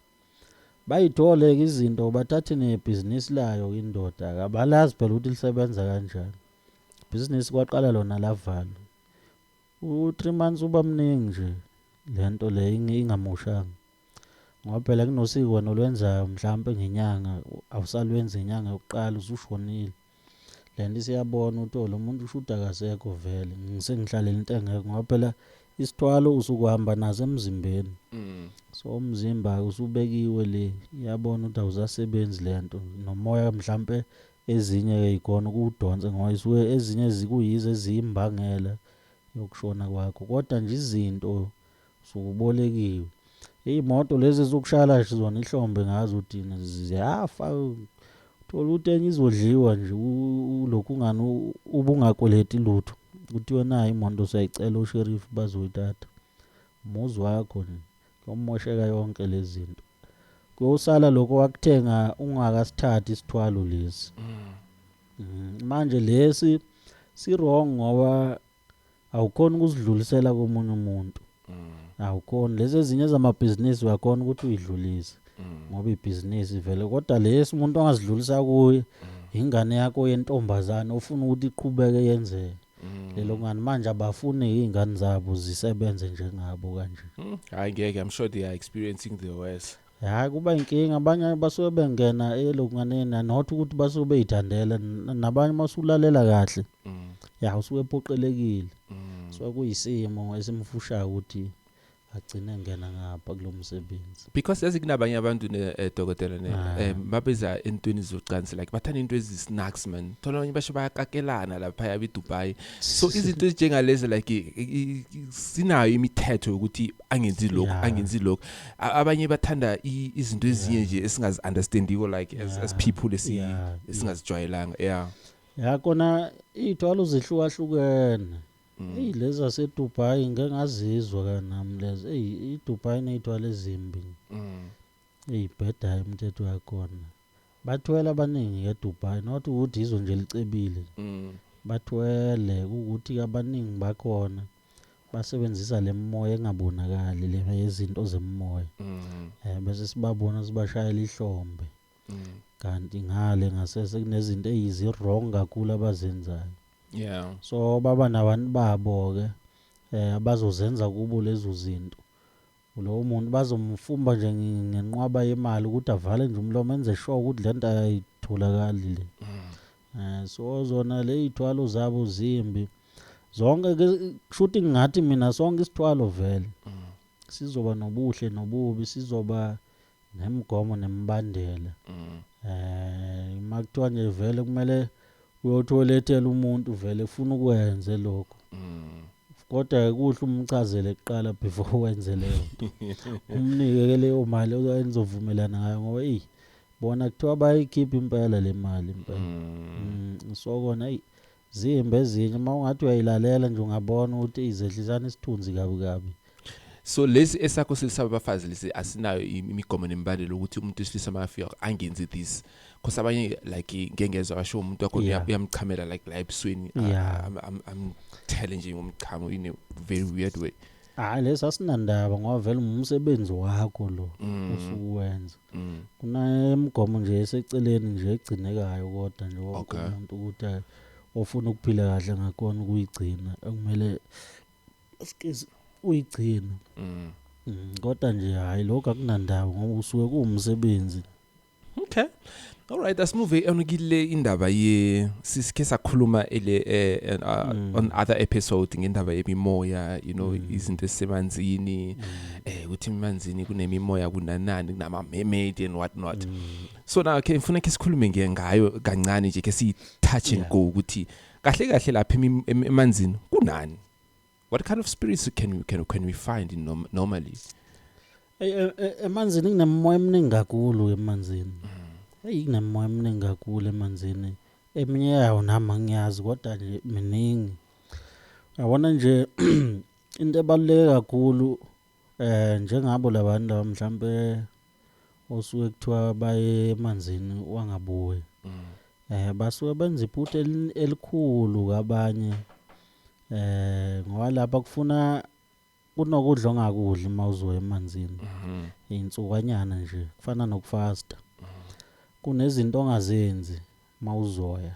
[SPEAKER 1] bayithole-ke izinto bathathe nebhizinisi layo indoda kabalazi phela ukuthi lisebenza kanjani ibhizinisi kwaqala lona lavalwa u-three months uba mningi nje le nto le ingamoshanga ngoba phela kunosiko wena olwenzayo mhlampe ngenyanga awusalwenzi ngenyanga yokuqala usushonile le nto isiyabona ukuthi oh lo muntu ushuthi akasekho vele ngisengihlalele into engekho ngoba phela isithwalo usukuhamba naso emzimbeni mm. so umzimba usubekiwe le iyabona ukuthi awusasebenzi le nto nomoya mhlampe ezinye ikona ukudonsa ngoba isuke ezinye zikuyizo eziyimbangela yokushona kwakho kodwa nje izinto sukubolekiwe iy'moto lezi ezokushayela nje zona ihlombe ngazo udini ziyafa thola ukuthi enye izodliwa nje ulokhu ungani ubungakweleti lutho kuthiwe nayo imoto siyayicela usherifu bazoyithatha umuzi wakho nje kuyomosheka yonke lezi zinto kuyosala lokho wakuthenga ungakasithathi isithwalo lesi mm. Mm, manje lesi si-wrong ngoba awukhona ukuzidlulisela komunye umuntu awukhona lezi ezinye zamabhizinisi uyakhona ukuthi uyidlulise ngoba ibhizinisi vele kodwa lesi umuntu ongazidlulisa kuye ingane yakho yentombazane ufuna ukuthi iqhubeke yenzeke lelo ngani manje abafuni izingane zabo zisebenze njengabo kanje Hmm, hayi ngeke i'm sure
[SPEAKER 2] they are experiencing the worst Hhayi kuba inkinga
[SPEAKER 1] abanye basuke bengena elokunganeni and not ukuthi basuke beyithandele N- nabanye uma usulalela kahle Mm. ya usuke ephoqelekile Mm. so kuyisimo esimfushayo ukuthi agcine engena ngapha kulo msebenzi because yazi kunabanye
[SPEAKER 2] abantu ne eh, dokotela ne Ah. eh, mabeza entweni zocansi like bathanda into ezi-snacks man thola abanye basho bayakakelana laphaya bedubai so izinto ezinjengalezi like i- i- i- sinayo imithetho yokuthi angenzi lokhu yeah. angenzi lokhu abanye bathanda izinto ezinye yeah. nje esingazi understandiko like yeah. as, as people esi yeah. esingazijwayelanga yeah ya
[SPEAKER 1] kona ithwala uzihlukahlukene mm. eyi lezi zasedubai ngeke ngazizwa kanami lezi eyi idubai ney'thwala ezimbi mm. eyi bheda imthetho yakhona Bathwele abaningi ngeDubai not ukuthi izwe nje licebile. Mm. Bathwele ukuthi abaningi bakhona basebenzisa lemoya engabonakali lena yezinto zemoya. Mm. Eh bese sibabona sibashayela ihlombe. Mm. Kanti ngale ngasese kunezinto eziyi wrong kakhulu abazenzayo. Yeah. So baba nabantu babo ke eh abazozenza kubo lezo zinto. Lowo muntu bazomfumba nje ngenqwaba yemali ukuthi avale nje umlomo enze sure ukuthi le nto ayitholakali le mm. eh, so zona le iy'thwalo zabo zimbi zonke kushuthi ngathi mina sonke isithwalo vele mm. sizoba nobuhle nobubi sizoba nemigomo nemibandela mm. eh uma kuthiwa nje vele kumele uyothi oletela umuntu vele ufuna ukwenze lokho mm. kodwa kuhle umchazele kuqala before wenze leyo nto umnike ke leyo mali ozovumelana ngayo ngoba eyi bona kuthiwa bayikhipha impela le mali impela mm. mm, so kona eyi Zimbi ezinye uma ungathi uyayilalela nje ungabona ukuthi izehlisana isithunzi kabi kabi. So lesi
[SPEAKER 2] esakho silisa abafazi lesi asinayo imigomo nemibandela ukuthi umuntu wesilisa makafika angenzi this cause abanye like ngeke ngezwe abasho umuntu wakho Yeah. uyamchamela like la ebusweni uh, Yeah. am- am- amthele nje ngomchamo in a very weird way Hayi lesi
[SPEAKER 1] asinandaba ngoba vele umsebenzi wakho lo Mm. usuwenza. Mm. Kunemigomo nje eseceleni nje egcinekayo kodwa nje wonke Okay. umuntu ukuthi ayi, ofuna ukuphila kahle ngakhona ukuyigcina ekumele excuse uyigcina. Mm. Mm, Kodwa nje hayi lokho akunandawo ngoba usuke kuwumsebenzi. Okay.
[SPEAKER 2] Alright, asimove on kile indaba ye sisikhe sakhuluma ele eh, uh, mm. on other episode ngendaba yemimoya, you know, mm. izinto esemanzini, mm. eh ukuthi emanzini kunemimoya kunanani kunama mermaid and what not. Mm. So now ke ngifuna ke sikhulume nge ngayo kancane nje ke si touch and yeah. go ukuthi kahle kahle lapha emanzini kunani? What kind of spirits can we, can, can we find in norm, normally? Ey, e- e- emanzini
[SPEAKER 1] kunemoya eminingi kakhulu emanzini eyi kunemoya eminingi kakhulu emanzini eminye yawo nami angiyazi kodwa nje miningi yabona nje into ebaluleke kakhulu Eh njengabo labantu laba mhlambe osuke kuthiwa baye emanzini wangabuye. Mm. Eh basuke benza iphutha elikhulu kabanye. Eh ngoba lapha kufuna kunokudla ongakudli uma uzoya emanzini. Mhm. Insukwanyana nje kufana nokufasta. Mhm. Kunezinto ongazenzi mawuzoya.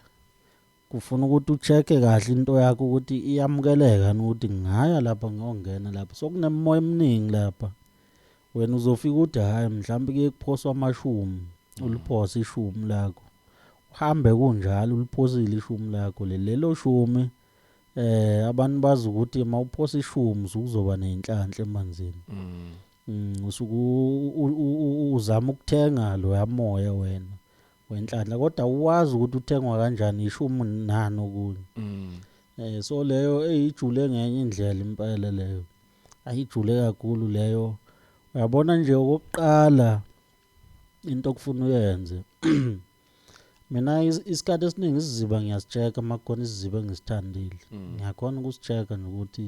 [SPEAKER 1] Kufuna ukuthi ucheck-e kahle into yakho ukuthi iyamukeleka yini ukuthi ngingaya lapha ngiyongena lapha. Sokunemimoya eminingi lapha. Wena uzofika uthi hhayi mhlawumbe kuye kuphoswa amashumi, uliphose ishumi lakho. Uhambe kunjalo uliphosile ishumi lakho leli. Lelo shumi eh abantu bazi ukuthi uma uphosa ishumi usuke uzoba ney'nhlanhla emanzini. Mm, usuke u- u- u- u- uzama ukuthenga loya moya wena. wenhlanhla kodwa uwazi ukuthi uthengwa kanjani ishumu nani okunye mm. eh so leyo eyijule ngenye indlela impela leyo ayijule kakhulu leyo uyabona nje okokuqala into okufuna uyenze mina isikhathi esiningi isiziba ngiyasicheka makukhona isiziba engisithandile mm. ngiyakhona ukusicheka nokuthi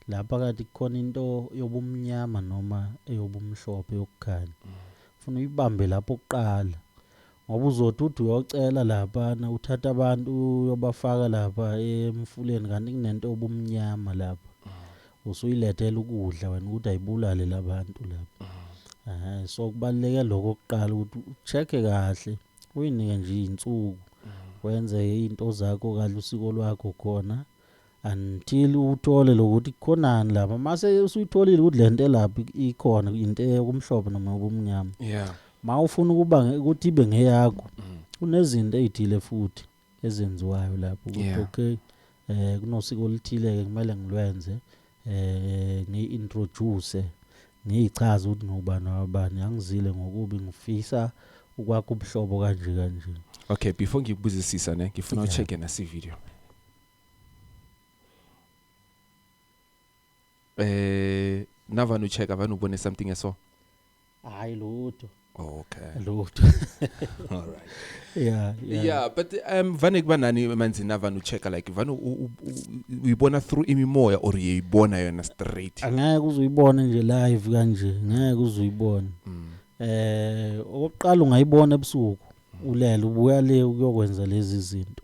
[SPEAKER 1] la phakathi kukhona into yobumnyama noma eyobumhlophe yokukhanya ufuna uyibambe lapho kuqala ngoba uzothi uthi uyocela laphana uthatha abantu uyobafaka lapha emfuleni kanti kunento obumnyama lapha usuyilethela ukudla wena ukuthi ayibulale labantu lapha eh so kubaleke lokho kuqala ukuthi ucheck kahle uyinike nje izinsuku wenze izinto zakho kahle usiko lwakho khona mm. until uthole lokuthi khonani lapha mase usuyitholile ukuthi lento elapha ikhona into eyokumhlophe noma yokumnyama yeah ma ufuna ukuba nge- ukuthi ibe ngeyakho kunezinto ezithile futhi ezenziwayo lapho ukuthi Yeah. okay eh kunosiko oluthile ke kumele ngilwenze eh ngiintroduce ngiyichaza ukuthi ngubani wabani angizile ngokubi ngifisa ukwakha ubuhlobo kanje kanje okay before
[SPEAKER 2] ngikubuzisisa ne ngifuna Yeah. ucheck na si video eh navani ucheck avani ubone something eso hayi
[SPEAKER 1] lutho okay
[SPEAKER 2] lutho all right yeah yeah, yeah but um vane kuba nani emanzini avani ucheck like vane uyibona through imimoya or uyibona yona straight angeke uzuyibona
[SPEAKER 1] nje live kanje ngeke uzuyibona mm. eh okokuqala ungayibona ebusuku mm. ulele ubuya le ukuyokwenza lezi zinto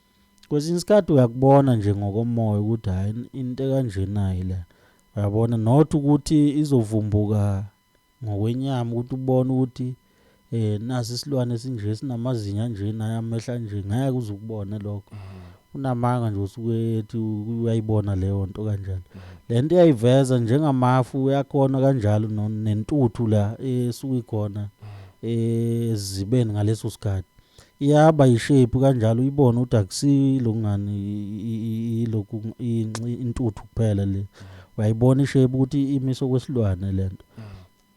[SPEAKER 1] kwesinye isikhathi uyakubona nje ngokomoya ukuthi hayi into ekanjenayi la uyabona not ukuthi izovumbuka ngokwenyama ukuthi ubone ukuthi eh nasi isilwane esinje sinamazinyo anje naye amehla nje ngeke uze ukubone lokho mm. unamanga nje usuke ethi uyayibona leyo nto kanjalo mm. lento iyayiveza njengamafu uyakhona kanjalo nentuthu la esuke ikhona mm. ezibeni ngaleso sikhathi Iyaba yi shape kanjalo uyibone ukuthi akusilo ngani ilokhu intuthu kuphela le. Uyayibona i shape ukuthi imise okwesilwane lento.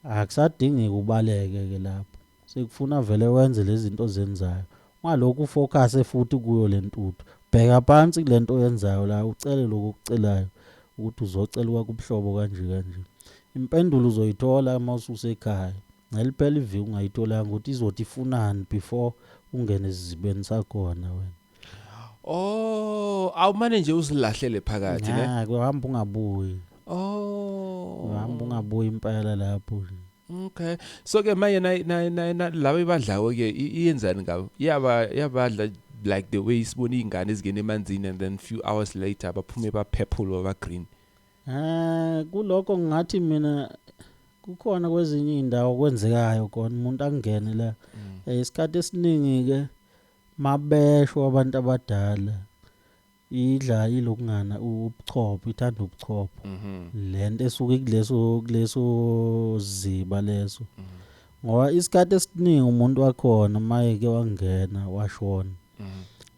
[SPEAKER 1] Akusadingi kubaleke ke lapho. Sekufuna vele wenze lezinto ozenzayo. Ungalokhu ufocus futhi kuyo lentuthu. Bheka phansi kulento oyenzayo la ucele lokho okucelayo ukuthi uzocelwa kubuhlobo kanje kanje. Impendulo uzoyithola mawususekhaya. Ngeliphela iviki ungayitholanga ukuthi izothi ifunani before ungene esizibeni sakhona wena. Oh,
[SPEAKER 2] awumane nje uzilahlele phakathi ne. Ngeke uhamba
[SPEAKER 1] ungabuyi. Oh. Uhamba ungabuyi impela lapho. Okay.
[SPEAKER 2] So ke manje na na na laba ibadlawo ke iyenzani ngabo? Yaba yabadla like the way isibona izingane ezingena emanzini and then few hours later baphume baphephulwa ba green. Eh
[SPEAKER 1] kuloko ngathi mina kukhona kwezinye indawo kwenzekayo khona umuntu akungene la. Mm. Eh, isikhathi esiningi ke mabesho abantu abadala idla ilokungana ubuchopho ithanda ubuchopho. Mhm. Lento esuke kuleso kuleso ziba leso. Mhm. Ngoba isikhathi esiningi umuntu wakhona mayeke wangena washona. mm.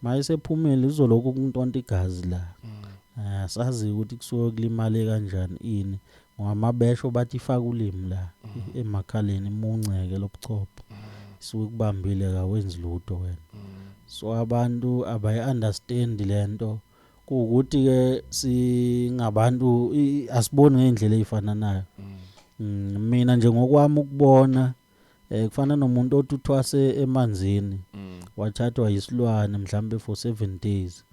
[SPEAKER 1] maye sephumele izolokhu ukuntonta igazi la mm. ah, sazi ukuthi kusuke kulimale kanjani ini ngamabesho bathi ifaka ulimi la mm. emakhaleni imunceke lobuchopho mm. suke kubambile kawenzi lutho wena mm. so abantu abayi understand lento mm. ukuthi ke singabantu asiboni ngendlela ezifananayo mm. mm, mina nje ngokwami ukubona eh kufana nomuntu othi uthwase emanzini mm. wathathwa yisilwane mhlambe for 7 days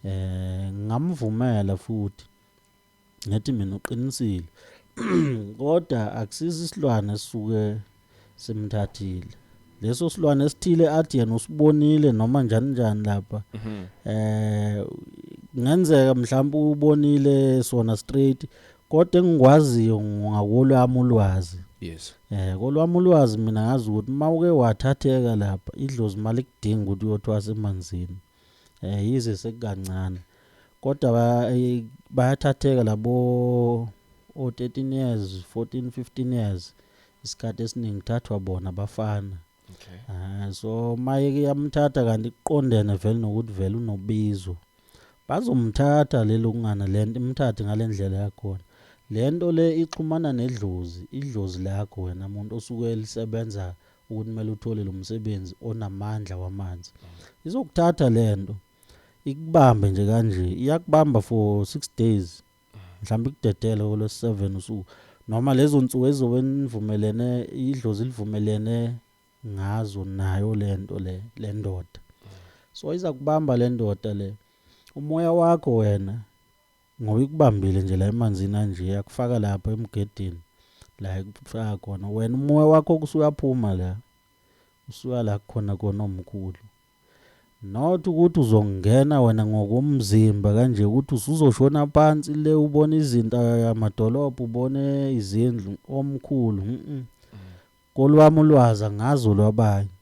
[SPEAKER 1] eh ngamvumela futhi ngathi mina uqinisile kodwa akusizi isilwane suke simthathile leso silwane esithile athi yena usibonile noma njani njani lapha mhm. eh ngenzeka mhlawumbe ubonile sona straight Kodwa engikwaziyo ngakolwami ulwazi. Yes. Eh
[SPEAKER 2] kolwami ulwazi
[SPEAKER 1] mina ngazi ukuthi uma uke wathatheka lapha idlozi mali kudinga ukuthi uyothwasa emanzini. Eh yize sekukancane. Kodwa eh, bayathatheka labo o 13 years, 14, 15 years isikhathi esiningi thathwa bona bafana. okay Ah,
[SPEAKER 2] so maye ke
[SPEAKER 1] yamthatha kanti kuqondene vele nokuthi vele unobizo bazomthatha lelo kungana lento imthathe ngalendlela yakhona lento le ixhumana nedlozi idlozi lakho wena muntu osuke lisebenza ukuthi mele uthole lo msebenzi onamandla wamanzi izokuthatha lento ikubambe nje kanje iyakubamba for 6 days mhlawumbe ikudedele kolwesi-7 usuku noma lezo nsuku ezobe nivumelene idlozi livumelene ngazo nayo le nto le le ndoda so iza kubamba le ndoda le umoya wakho wena ngoba ikubambile nje la emanzini anje yakufaka lapha emgedini la ikufaka khona wena umoya wakho kusuyaphuma la usuya la khona kona omkhulu Not ukuthi uzongena wena ngokomzimba kanje ukuthi usuzoshona phansi le ubona izinto amadolobha ubone izindlu omkhulu mm kolwami ulwazi angazi olwabanye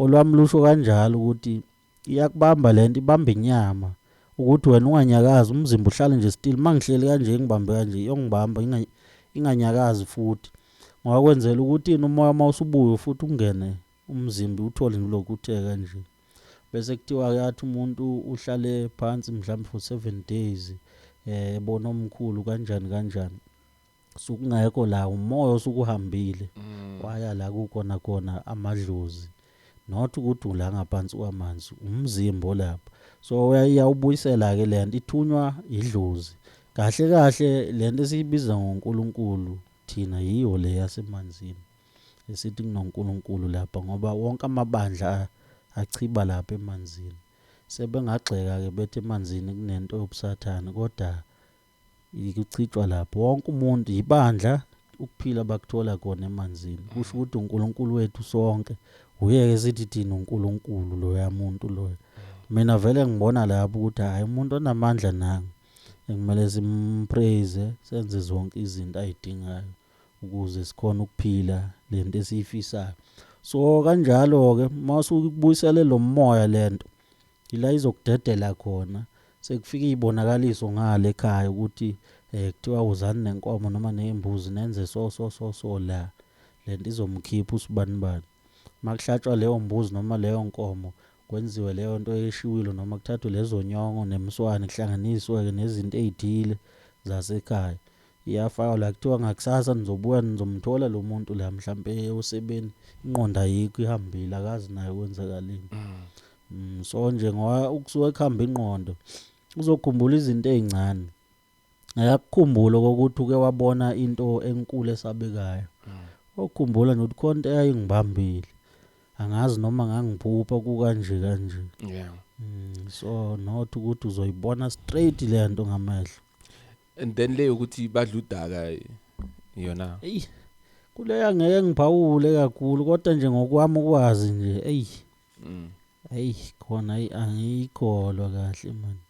[SPEAKER 1] olwami lusho kanjalo ukuthi iyakubamba lento ibamba inyama ukuthi wena unganyakazi umzimba uhlale nje still mangihleli kanje ngibambe kanje yongibamba inganyakazi futhi ngoba kwenzela ukuthi umoya mawusubuye futhi ungene Umzimbi uthole ngilokhu uthe kanje. Bese kuthiwa-ke athi umuntu uhlale phansi mhlawumbe for seven days ebona omkhulu kanjani kanjani. Sukungekho la umoya osukuhambile mm. waya la kukhona khona amadlozi not ukuthi ula ngaphansi kwamanzi umzimba olapha so uyawubuyisela-ke le nto ithunywa idlozi kahle kahle le nto esiyibiza ngonkulunkulu thina yiyo le yasemanzini esithi kunoNkulunkulu lapha ngoba wonke amabandla achiba lapha emanzini sebengagxeka ke bethi emanzini kunento yobusathane kodwa ikuchitshwa lapho wonke umuntu yibandla ukuphila bakuthola khona emanzini kusho mm. ukuthi uNkulunkulu wethu sonke uyeke sithi thina uNkulunkulu loya muntu loyo mm. mina vele ngibona lapho ukuthi hayi umuntu onamandla nanga ekumele simpraise senze zonke izinto ayidingayo ukuze sikhone ukuphila lento esiyifisayo so kanjalo ke mawusukubuyisele lo moya lento ila izokudedela khona sekufika izibonakaliso ngale ekhaya ukuthi eh kuthiwa uzani nenkomo noma nezimbuzi nenze so so so so la lento izomkhipha usibani bani makuhlatshwa leyo mbuzi noma leyo nkomo kwenziwe leyo nto eshiwilo noma kuthathwe lezo nyongo nemswane kuhlanganiswe ke nezinto ezithile zasekhaya Iyafakwa la kuthiwa ngakusasa nizobuya nizomthola lo muntu la mhlampe eye usebeni ingqondo ayikho ihambile akazi naye kwenzakaleni. Mm. Mm, so nje ngoba ukusuka ekuhamba ingqondo uzokhumbula izinto ezincane. Ayakukhumbula ukuthi uke wabona into enkulu esabekayo. Mm. Okhumbula nje ukuthi khona into eyayingibambile. Angazi noma ngangiphupha kukanje kanje. Yeah.
[SPEAKER 2] Mm, so
[SPEAKER 1] not ukuthi uzoyibona straight lento ngamehlo. and then
[SPEAKER 2] le yokuthi badla udaka yona eyi
[SPEAKER 1] kuleya ngeke ngiphawule kakhulu kodwa nje ngokwami ukwazi nje eyi mm. eyi khona eyi angiyikholwa kahle mani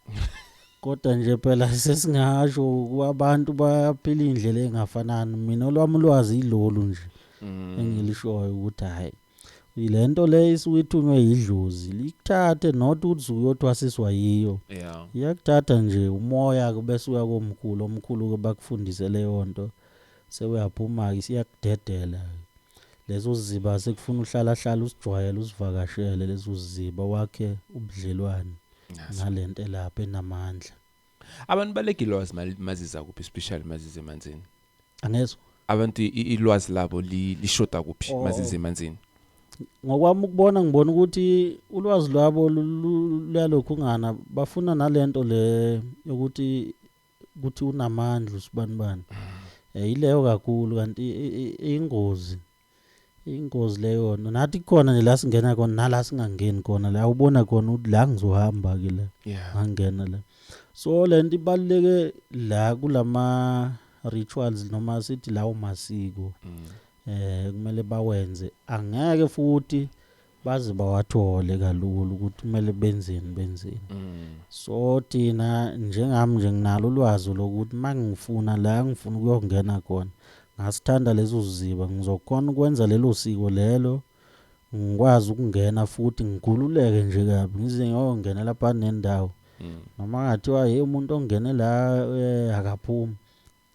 [SPEAKER 1] kodwa nje phela sesingasho abantu baphila indlela engafanani mina olwami ulwazi ilolu nje mm. engilishoyo ukuthi hayi le nto le isuke ithunywe yidlozi likuthathe not ukuthi usuke uyothwasiswa yiyo yeah iyakuthatha nje umoya ke bese uya komkhulu omkhulu ke bakufundise leyo nto sewuyaphuma ke siyakudedela lezo ziba sekufuna uhlala hlala usijwayele usivakashele lezo ziba wakhe ubudlelwane nalento elapha enamandla
[SPEAKER 2] Abantu balegilozi maziza kuphi especially mazize emanzini. Angezwa.
[SPEAKER 1] Abantu
[SPEAKER 2] ilwazi labo lishoda kuphi oh. mazize emanzini. Ngokwami
[SPEAKER 1] ukubona ngibona ukuthi ulwazi lwabo luyalokhu ngana bafuna nalento le yokuthi ukuthi unamandla usibanibani. Mm. Eh, yileyo kakhulu kanti ingozi. ingozi le yona nathi khona nje la singena khona nala singangeni khona la ubona khona ukuthi la ngizohamba ke la yeah ngangena la so le nto ibaluleke la kulama rituals noma sithi lawo masiko mm. eh kumele bawenze angeke futhi baze bawathole kalula ukuthi kumele benzeni benzeni mm. so thina njengami nje nginalo ulwazi lokuthi uma ngifuna la ngifuna ukuyongena khona ngasithanda lezo ziba ngizokhona ukwenza lelo siko lelo ngikwazi ukungena futhi ngigululeke nje kabi ngize ngiyongena lapha nendawo mm. noma ngathiwa hey umuntu ongene la eh, akaphumi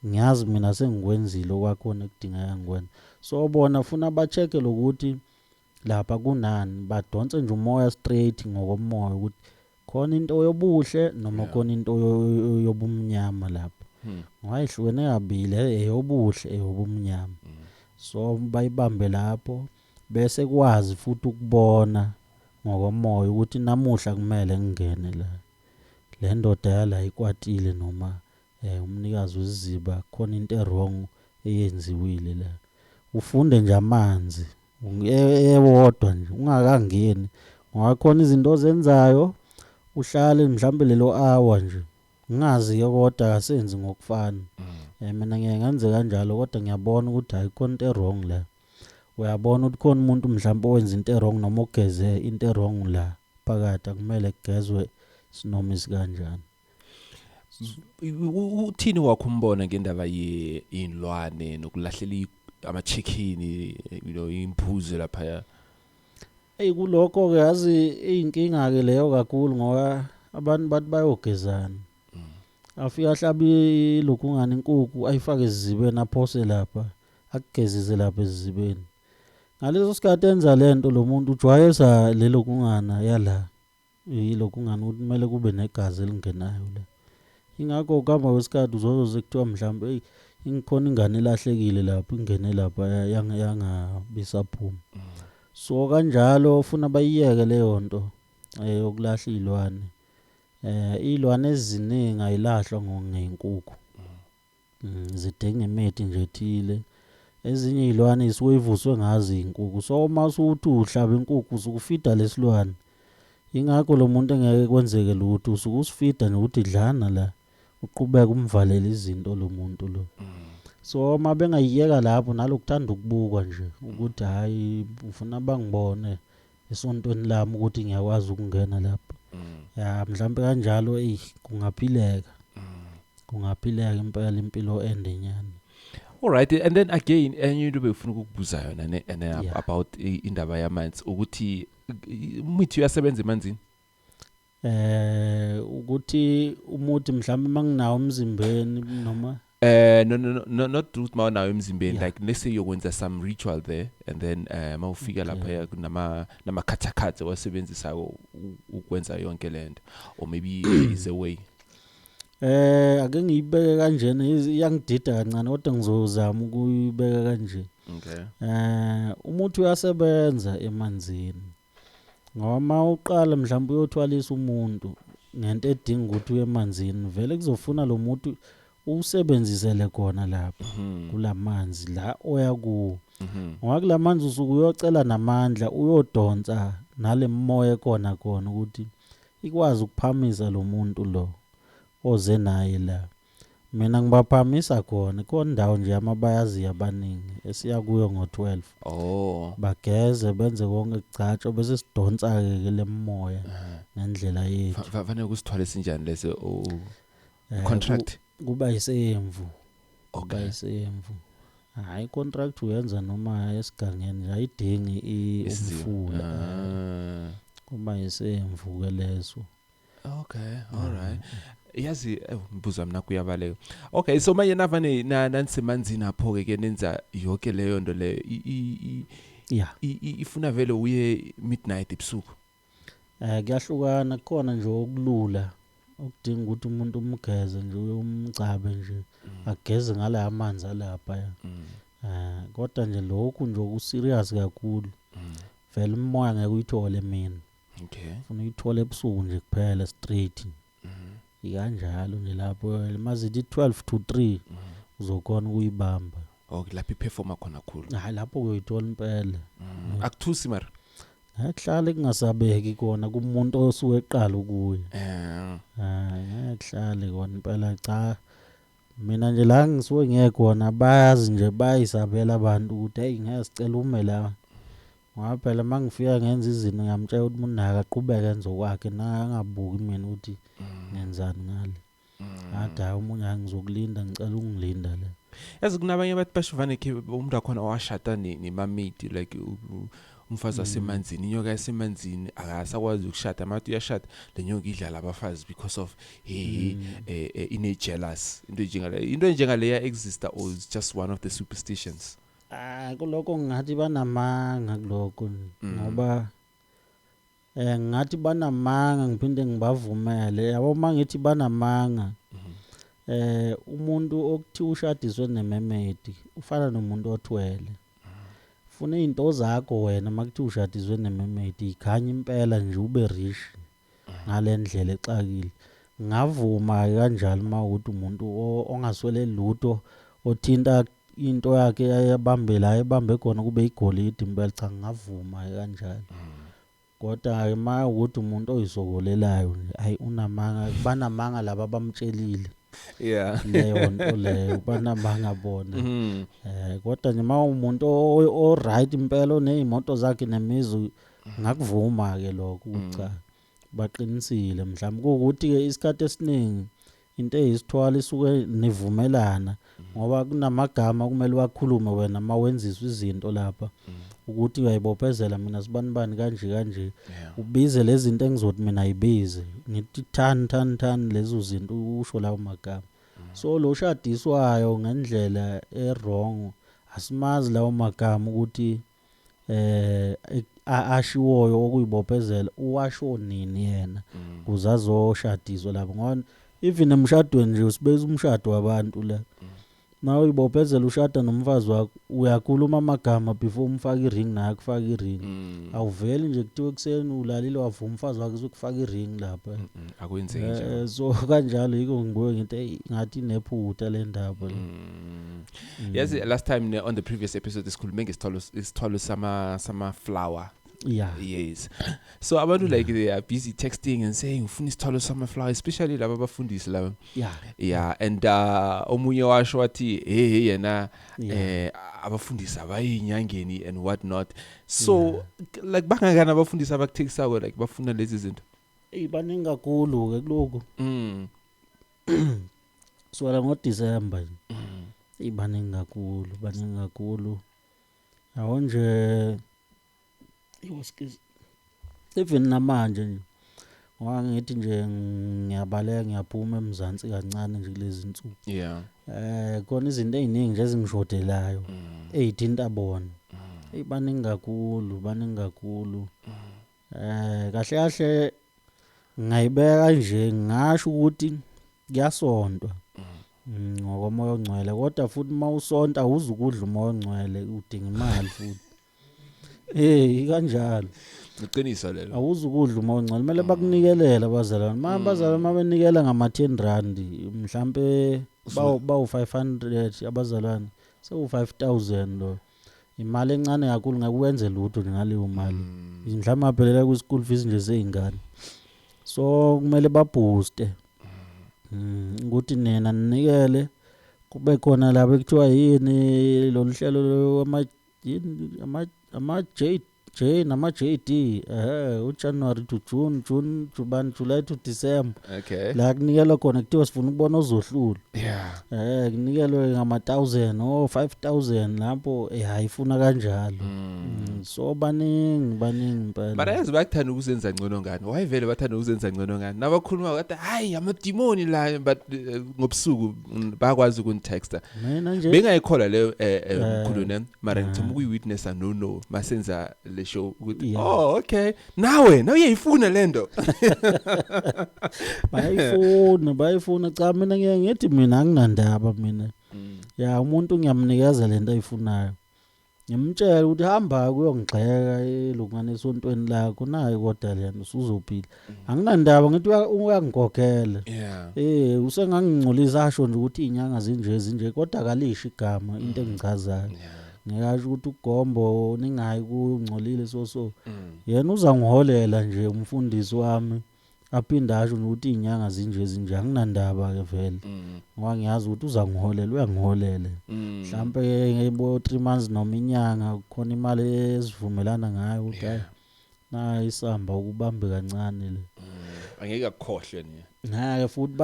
[SPEAKER 1] ngiyazi mina sengikwenzile okwakhona ekudingeka ngikwenza so bona funa ba-check-e lokuthi Lapha kunani badonse nje umoya straight ngokomoya ukuthi khona into yobuhle noma Yeah. khona into yo- yo- yo- yobumnyama lapha. Hmm. Ngoba ihlukene kabili e- eyobuhle eyobumnyama. Mm. So bayibambe lapho bese kwazi futhi ukubona ngokomoya ukuthi namuhla kumele ngingene la. Le ndoda yala ikwatile noma Eh umnikazi wesiziba khona into ewrong eyenziwile la. Ufunde nje amanzi ewodwa nje ungakangeni ngoba khona izinto ozenzayo uhlale mhlambe lelo hour nje ngazi ke kodwa akasenzi ngokufana eh mina ngeke ngenze kanjalo kodwa ngiyabona ukuthi hayi khona into wrong la uyabona ukuthi khona umuntu mhlawumbe owenza into wrong noma ogeze into wrong la phakathi akumele kugezwe sinomi sikanjani
[SPEAKER 2] uthini wakho umbona ngendaba yey'nlwane nokulahlela ama-chicken you know imbuzi laphaya eyi
[SPEAKER 1] kulokho-ke yazi iyinkinga-ke leyo kakhulu ngoba abantu bathi bayogezana mm. afike ahlabe ilokungani inkukhu ayifake ezizibeni aphose lapha akugezise lapha ezizibeni ngaleso sikhathi enza le nto lo muntu ujwayeza lelo kungana yala Yilo kungani ukuthi kumele kube negazi elingenayo le. Ingakho ukuhamba kwesikhathi uzozwe kuthiwa mhlawumbe eyi ingikhona ingane elahlekile lapho ingene lapha yangabisaphumi. Mm. So kanjalo ufuna bayiyeke leyo nto eh, yokulahla iy'lwane. Eh, iy'lwane eziningi ayilahlwa ngenkukhu. Mm, zidinga imithi nje ethile ezinye iy'lwane isuke ivuswe ngazo iy'nkukhu so uma usuthi uhlaba inkukhu usukufida lesilwane yingakho lo muntu engeke kwenzeke lutho usuke usifida nje ukuthi dlana la uqhubeka umvalele izinto lo muntu lo so uma bengayiyeka lapho nalokuthanda ukubukwa nje ukuthi hhayi ufuna bangibone esontweni lami ukuthi ngiyakwazi ukungena lapho mm. ya mhlawumbe kanjalo eyi kungaphileka mm. kungaphileka impela impilo ende nyana all right
[SPEAKER 2] and then again enye into befuna ukukubuza yona ne, ne yeah. about indaba yamanzi ukuthi imithi uyasebenza emanzini eh
[SPEAKER 1] ukuthi umuthi mhlawumbe manginawo umzimbeni noma eh no
[SPEAKER 2] no no not truth mawunawo emzimbeni like let's say yokwenza some ritual there and then eh mawufika lapha kunama nama khathakhathe wasebenzisa ukwenza yonke lento or maybe is a way eh
[SPEAKER 1] ake ngiyibeke kanjena iyangidida kancane kodwa ngizozama ukuyibeka kanje okay eh
[SPEAKER 2] umuthi
[SPEAKER 1] uyasebenza emanzini ngoba uma uqala mhlawumbe uyothwalisa umuntu ngento edinga ukuthi uye emanzini vele kuzofuna lo muntu usebenzisele khona lapha mhm. kulamanzi la oya kuwo mhm. ngoba kulamanzi usuku uyocela namandla uyodonsa nalemoya ekona khona ukuthi ikwazi ukuphamisa lo muntu lo oze naye la Mina ngibaphamisa khona ikhona indawo nje yamabayaziya abaningi esiya kuyo ngo-12 oh bageze benze konke kugcatshwe bese sidonsa-ke ke lemoya ngendlela yethu Fa- fa- fanele kusithwale
[SPEAKER 2] sinjani lese oh Eh, contract ku- kuba
[SPEAKER 1] isemvu kuba okay isemvu hhayi icontract uyenza noma esigangeni nje ayidingi i- isiziba umfula eh. Ah. kuba isemvu-ke leso okay
[SPEAKER 2] all right yazi eh, mbuza mina kuyabaleka okay so manje navane na nansemanzini apho ke ke nenza yonke leyo nto leyo I- i- i- yeah i- i- ifuna vele uye midnight
[SPEAKER 1] ebusuku eh
[SPEAKER 2] kuyahlukana
[SPEAKER 1] kukhona nje
[SPEAKER 2] okulula
[SPEAKER 1] okudinga ukuthi umuntu umgeze nje umgcabe nje ageze ngala amanzi alapha ya eh kodwa nje lokhu nje okuserious kakhulu vele umoya ngeke uyithole mina Okay. Funa uyithole ebusuku nje kuphela straight. Mhm. Ikanjalo nje lapho mazithi 12 to 3 Mhm. uzokona ukuyibamba. Okay, lapho iperforma
[SPEAKER 2] khona khulu. Hayi lapho uyoyithola
[SPEAKER 1] impela. Mhm. Akuthusi
[SPEAKER 2] mara. Yakuhlala
[SPEAKER 1] kungasabeki kona kumuntu osuke eqala ukuya. Eh. Hayi yakuhlala kona impela cha. Mina nje la ngisuke ngiye khona bayazi nje bayisabela abantu ukuthi hey ngeke sicela ume la. Ngoba phela uma ngifika ngenza izinto ngiyamtshela ukuthi munaka aqhubeke enze okwakhe naye angabuki mina ukuthi mm. ngenzani ngale mm. ngathi hayi omunye hayi ngizokulinda ngicela ungilinda le yazi kunabanye abathi
[SPEAKER 2] bashivane khe umuntu wakhona owashada nemamidi like umfazi wasemanzini mm. inyoka yasemanzini akasakwazi ukushada amathi uyashada le nyoka idlala abafazi because of he mm. eh, eh, ine jealous into enjengale into enjengaleya exista or just one of the superstitions Ah kuloko
[SPEAKER 1] ngathi banamanga kuloko mm. ngoba eh ngathi banamanga ngiphinde ngibavumele yabo mangithi banamanga mm-hmm. eh umuntu okuthi ushadiswe nememedi ufana nomuntu othwele funa izinto zakho wena makuthi ushadiswe nememedi ikhanya impela nje ube rich ngale ndlela exakile. Ngingavuma-ke kanjalo uma ukuthi umuntu ongaswele lutho othinta into yakhe yayebambe la ebambe khona kube igolide impela cha ngingavuma-ke kanjalo. Kodwa-ke uma ukuthi umuntu oyisokolelayo nje ayi unamanga banamanga laba abamtshelile. Yeah. Leyo nto leyo banamanga bona. Mm. Eh kodwa nje uma umuntu o right impela onezimoto zakhe nemizi ngakuvuma-ke lokho ukuthi cha baqinisile mhlawumbe kuwukuthi-ke isikhathi esiningi into eyisithwala isuke nivumelana ngoba kunamagama okumele wakhulume wena uma wenziswa izinto lapha ukuthi uyayibophezela mina sibanibani kanje kanje ubize lezi zinto engizothi mina yibize ngithi thani thani thani lezo zinto usho lawo magama so lo shadiswayo ngendlela e-wrong asimazi lawo magama ukuthi eh ashiwoyo okuyibophezela uwasho nini yena mm. kuze azoshadiswa lapho ngoba even emshadweni nje usibeza umshado wabantu la mm. nawe uyibophezela ushada nomfazi wakho uyakhuluma amagama before umfaka i-ring naye akufaka i-ring mm. awuveli nje kuthiwa ekuseni ulalile wavuma umfazi wakhe uzokufaka i-ring lapha mm, mm, akwenzeki
[SPEAKER 2] eh, so kanjalo yiko
[SPEAKER 1] ngibuye ngithi eyi ngathi inephutha le ndaba mm. Mm.
[SPEAKER 2] Yes, last time ne, on the previous episode sikhulume ngesithwalo isithwalo sama sama flower. Yeah. Yes. So abantu yeah. like they are busy texting and saying ufuna isithwalo sama flower especially laba bafundisi laba. Yeah. Yeah, and uh omunye washo wathi hey hey yena yeah. eh abafundisi abayinyangeni and what not. So yeah. like bangakana abafundisi abakuthekisa ko like bafuna lezi zinto. Ibaningi
[SPEAKER 1] kakhulu ke lokho. Mm. kusukela ngoDisemba nje mm. ibaningi kakhulu baningi kakhulu yabo nje iwoskiz even namanje nje ngoba ngithi nje ngiyabaleka ngiyaphuma emzansi kancane nje kulezi nsuku yeah eh khona izinto eziningi nje ezingishodelayo mm. ezithinta bona mm. eyibaningi kakhulu baningi kakhulu mm. Eh kahle kahle ngayibeka nje ngasho ukuthi kuyasontwa mm, ngokomoya ongcwele kodwa futhi uma usonta awuzi ukudla umoya ongcwele udinga imali futhi Eh kanjalo iqiniso lelo
[SPEAKER 2] awuzi ukudla umoya ongcwele
[SPEAKER 1] kumele bakunikelela abazalwane uma abazalwane uma benikela ngama-10 rand mhlampe bawu- bawu-500 abazalwane sewu-5000 lo Imali encane kakhulu ngeke wenze lutho nje ngaleyo mali. Mm. Mhlawumbe abhelela ku school fees nje zeingane. So kumele ba booster. Mm. Ukuthi nina ninikele kube khona laba ekuthiwa yini loluhlelo lwama ama ama J J nama JD ehe u January to June June Juban July to December okay la kunikelwa khona kuthiwa sifuna ukubona ozohlula yeah eh kunikelwe ngama 1000 o 5000 lapho eh hayifuna kanjalo mm. so baningi baningi impela But ayazi bakuthanda ukuzenza
[SPEAKER 2] ngcono ngani. Why vele bathanda ukuzenza ngcono ngani? Nabakhuluma bathi hayi amadimoni la but eh, ngobusuku bayakwazi ukunitexta mina nje bengayikholwa leyo eh,
[SPEAKER 1] eh, Eh,
[SPEAKER 2] mkhulu ne mara eh. ngithoma ukuyi-witness no no masenza le show ukuthi Yeah. oh okay nawe nawe uyayifuna le nto
[SPEAKER 1] bayifuna bayifuna cha mina ngiye ngithi mina anginandaba mina ya umuntu ngiyamnikeza lento ayifunayo Ngimtshela ukuthi hamba kuyongigxeka elungana esontweni lakho nayi kodwa lena usuzophila. Anginandaba ngithi uya- uyangigogela. Yeah. Eh usengangingcolisa asho nje ukuthi izinyanga zinje zinje kodwa kalisho igama into engichazayo. Yeah. Ngiyasho ukuthi ugombo ningayi kungcolile so so. Mm. Yena uzangiholela nje umfundisi wami. aphinde asho nokuthi iy'nyanga zinje zinje anginandaba-ke vele mm. ngoba ngiyazi ukuthi uzangiholela uyangiholele mm. mhlawumpe ngebo-three months noma inyanga khona imali esivumelana ngayo ukuthi hayi na isamba ukubambe kancane le mm. angeke
[SPEAKER 2] akukhohlwe ni ngeke futhi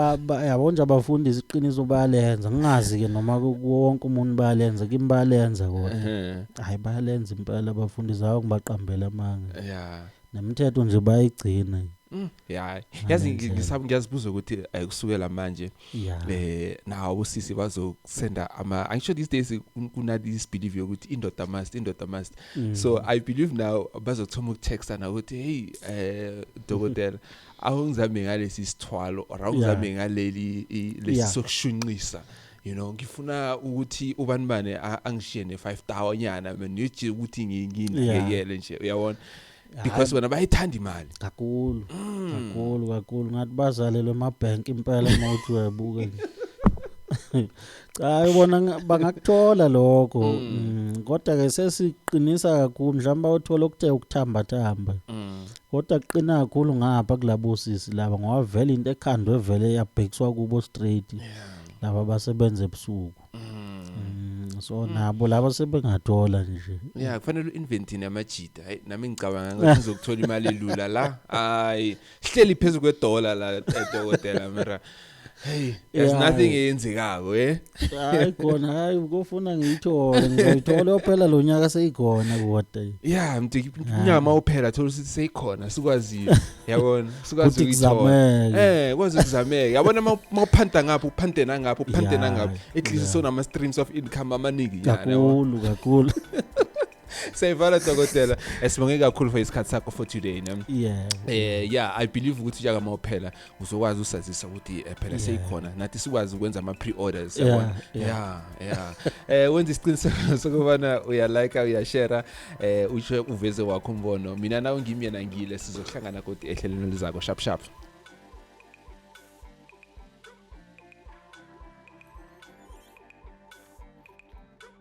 [SPEAKER 1] yabo nje abafundisi iqiniso bayalenza ngingazi-ke noma wonke umuntu bayalenza kimi bayalenza kona hayi bayalenza impela abafundisi awo ngibaqambele amanga yeah. Nemthetho nje bayigcina. Mm, yeah.
[SPEAKER 2] Yazi ngi- Ngiyenzela. ngisaba ngiyazibuza ukuthi eh, kusukela manje Yeah. eh nawo usisi bazosenda ama I'm sure these days kun- kuna this belief yokuthi indoda must indoda must Mm. so i believe now bazothoma ukutexta na ukuthi hey eh dokotela awungizame ngalesi sithwalo or awungizame ngaleli i- lesi Yeah. sokushunqisa you know ngifuna ukuthi ubani bani angishiye ne 5 tower nyana mina ngithi ukuthi nginginakekele nje uyabona because bona bayithanda imali kakhulu
[SPEAKER 1] mm. kakhulu kakhulu ngathi bazalelwe ama bank impela mawuthi uyabuka nje cha ubona bangakuthola lokho mm. Mm, kodwa ke sesiqinisa kakhulu mhlawumbe uthola ukuthe ukuthamba thamba kodwa kuqina kakhulu ngapha kulabo sisi laba ngoba vele into ekhandwe vele yabhekiswa kubo straight yeah laba abasebenza ebusuku mm. mm, so mm. nabo laba sebengathola nje yeah kufanele uinventine
[SPEAKER 2] amajita hayi nami ngicabanga ngathi ngizokuthola imali elula la hayi sihleli phezulu kwedollar la edokotela eh, mara Hey, there's yeah. nothing eyenzekako eh. Hayi
[SPEAKER 1] khona hayi ukufuna ngiyithole ngiyithole ophela lo nyaka seyikhona kodwa. Yeah, mntu inyama
[SPEAKER 2] ophela thola ukuthi seyikhona sikwazile. yabona sikwazi ukuzameka eh kwazi ukuzameka yabona mawuphanta ngapha uphante nangapha uphante nangapha at least so nama streams of income amaningi yana kakhulu kakhulu Sayivala dokotela esibonge kakhulu for isikhathi sakho for today ne Yeah eh yeah I believe ukuthi njaka mawuphela uzokwazi usazisa ukuthi eh, phela seyikhona nathi sikwazi ukwenza ama pre orders yabona yeah yeah eh wenza isiqiniseko sokubana uya like uya share eh ushe uveze wakho umbono mina nawe ngimi yena ngile sizohlangana kodwa ehlelweni lizako sharp sharp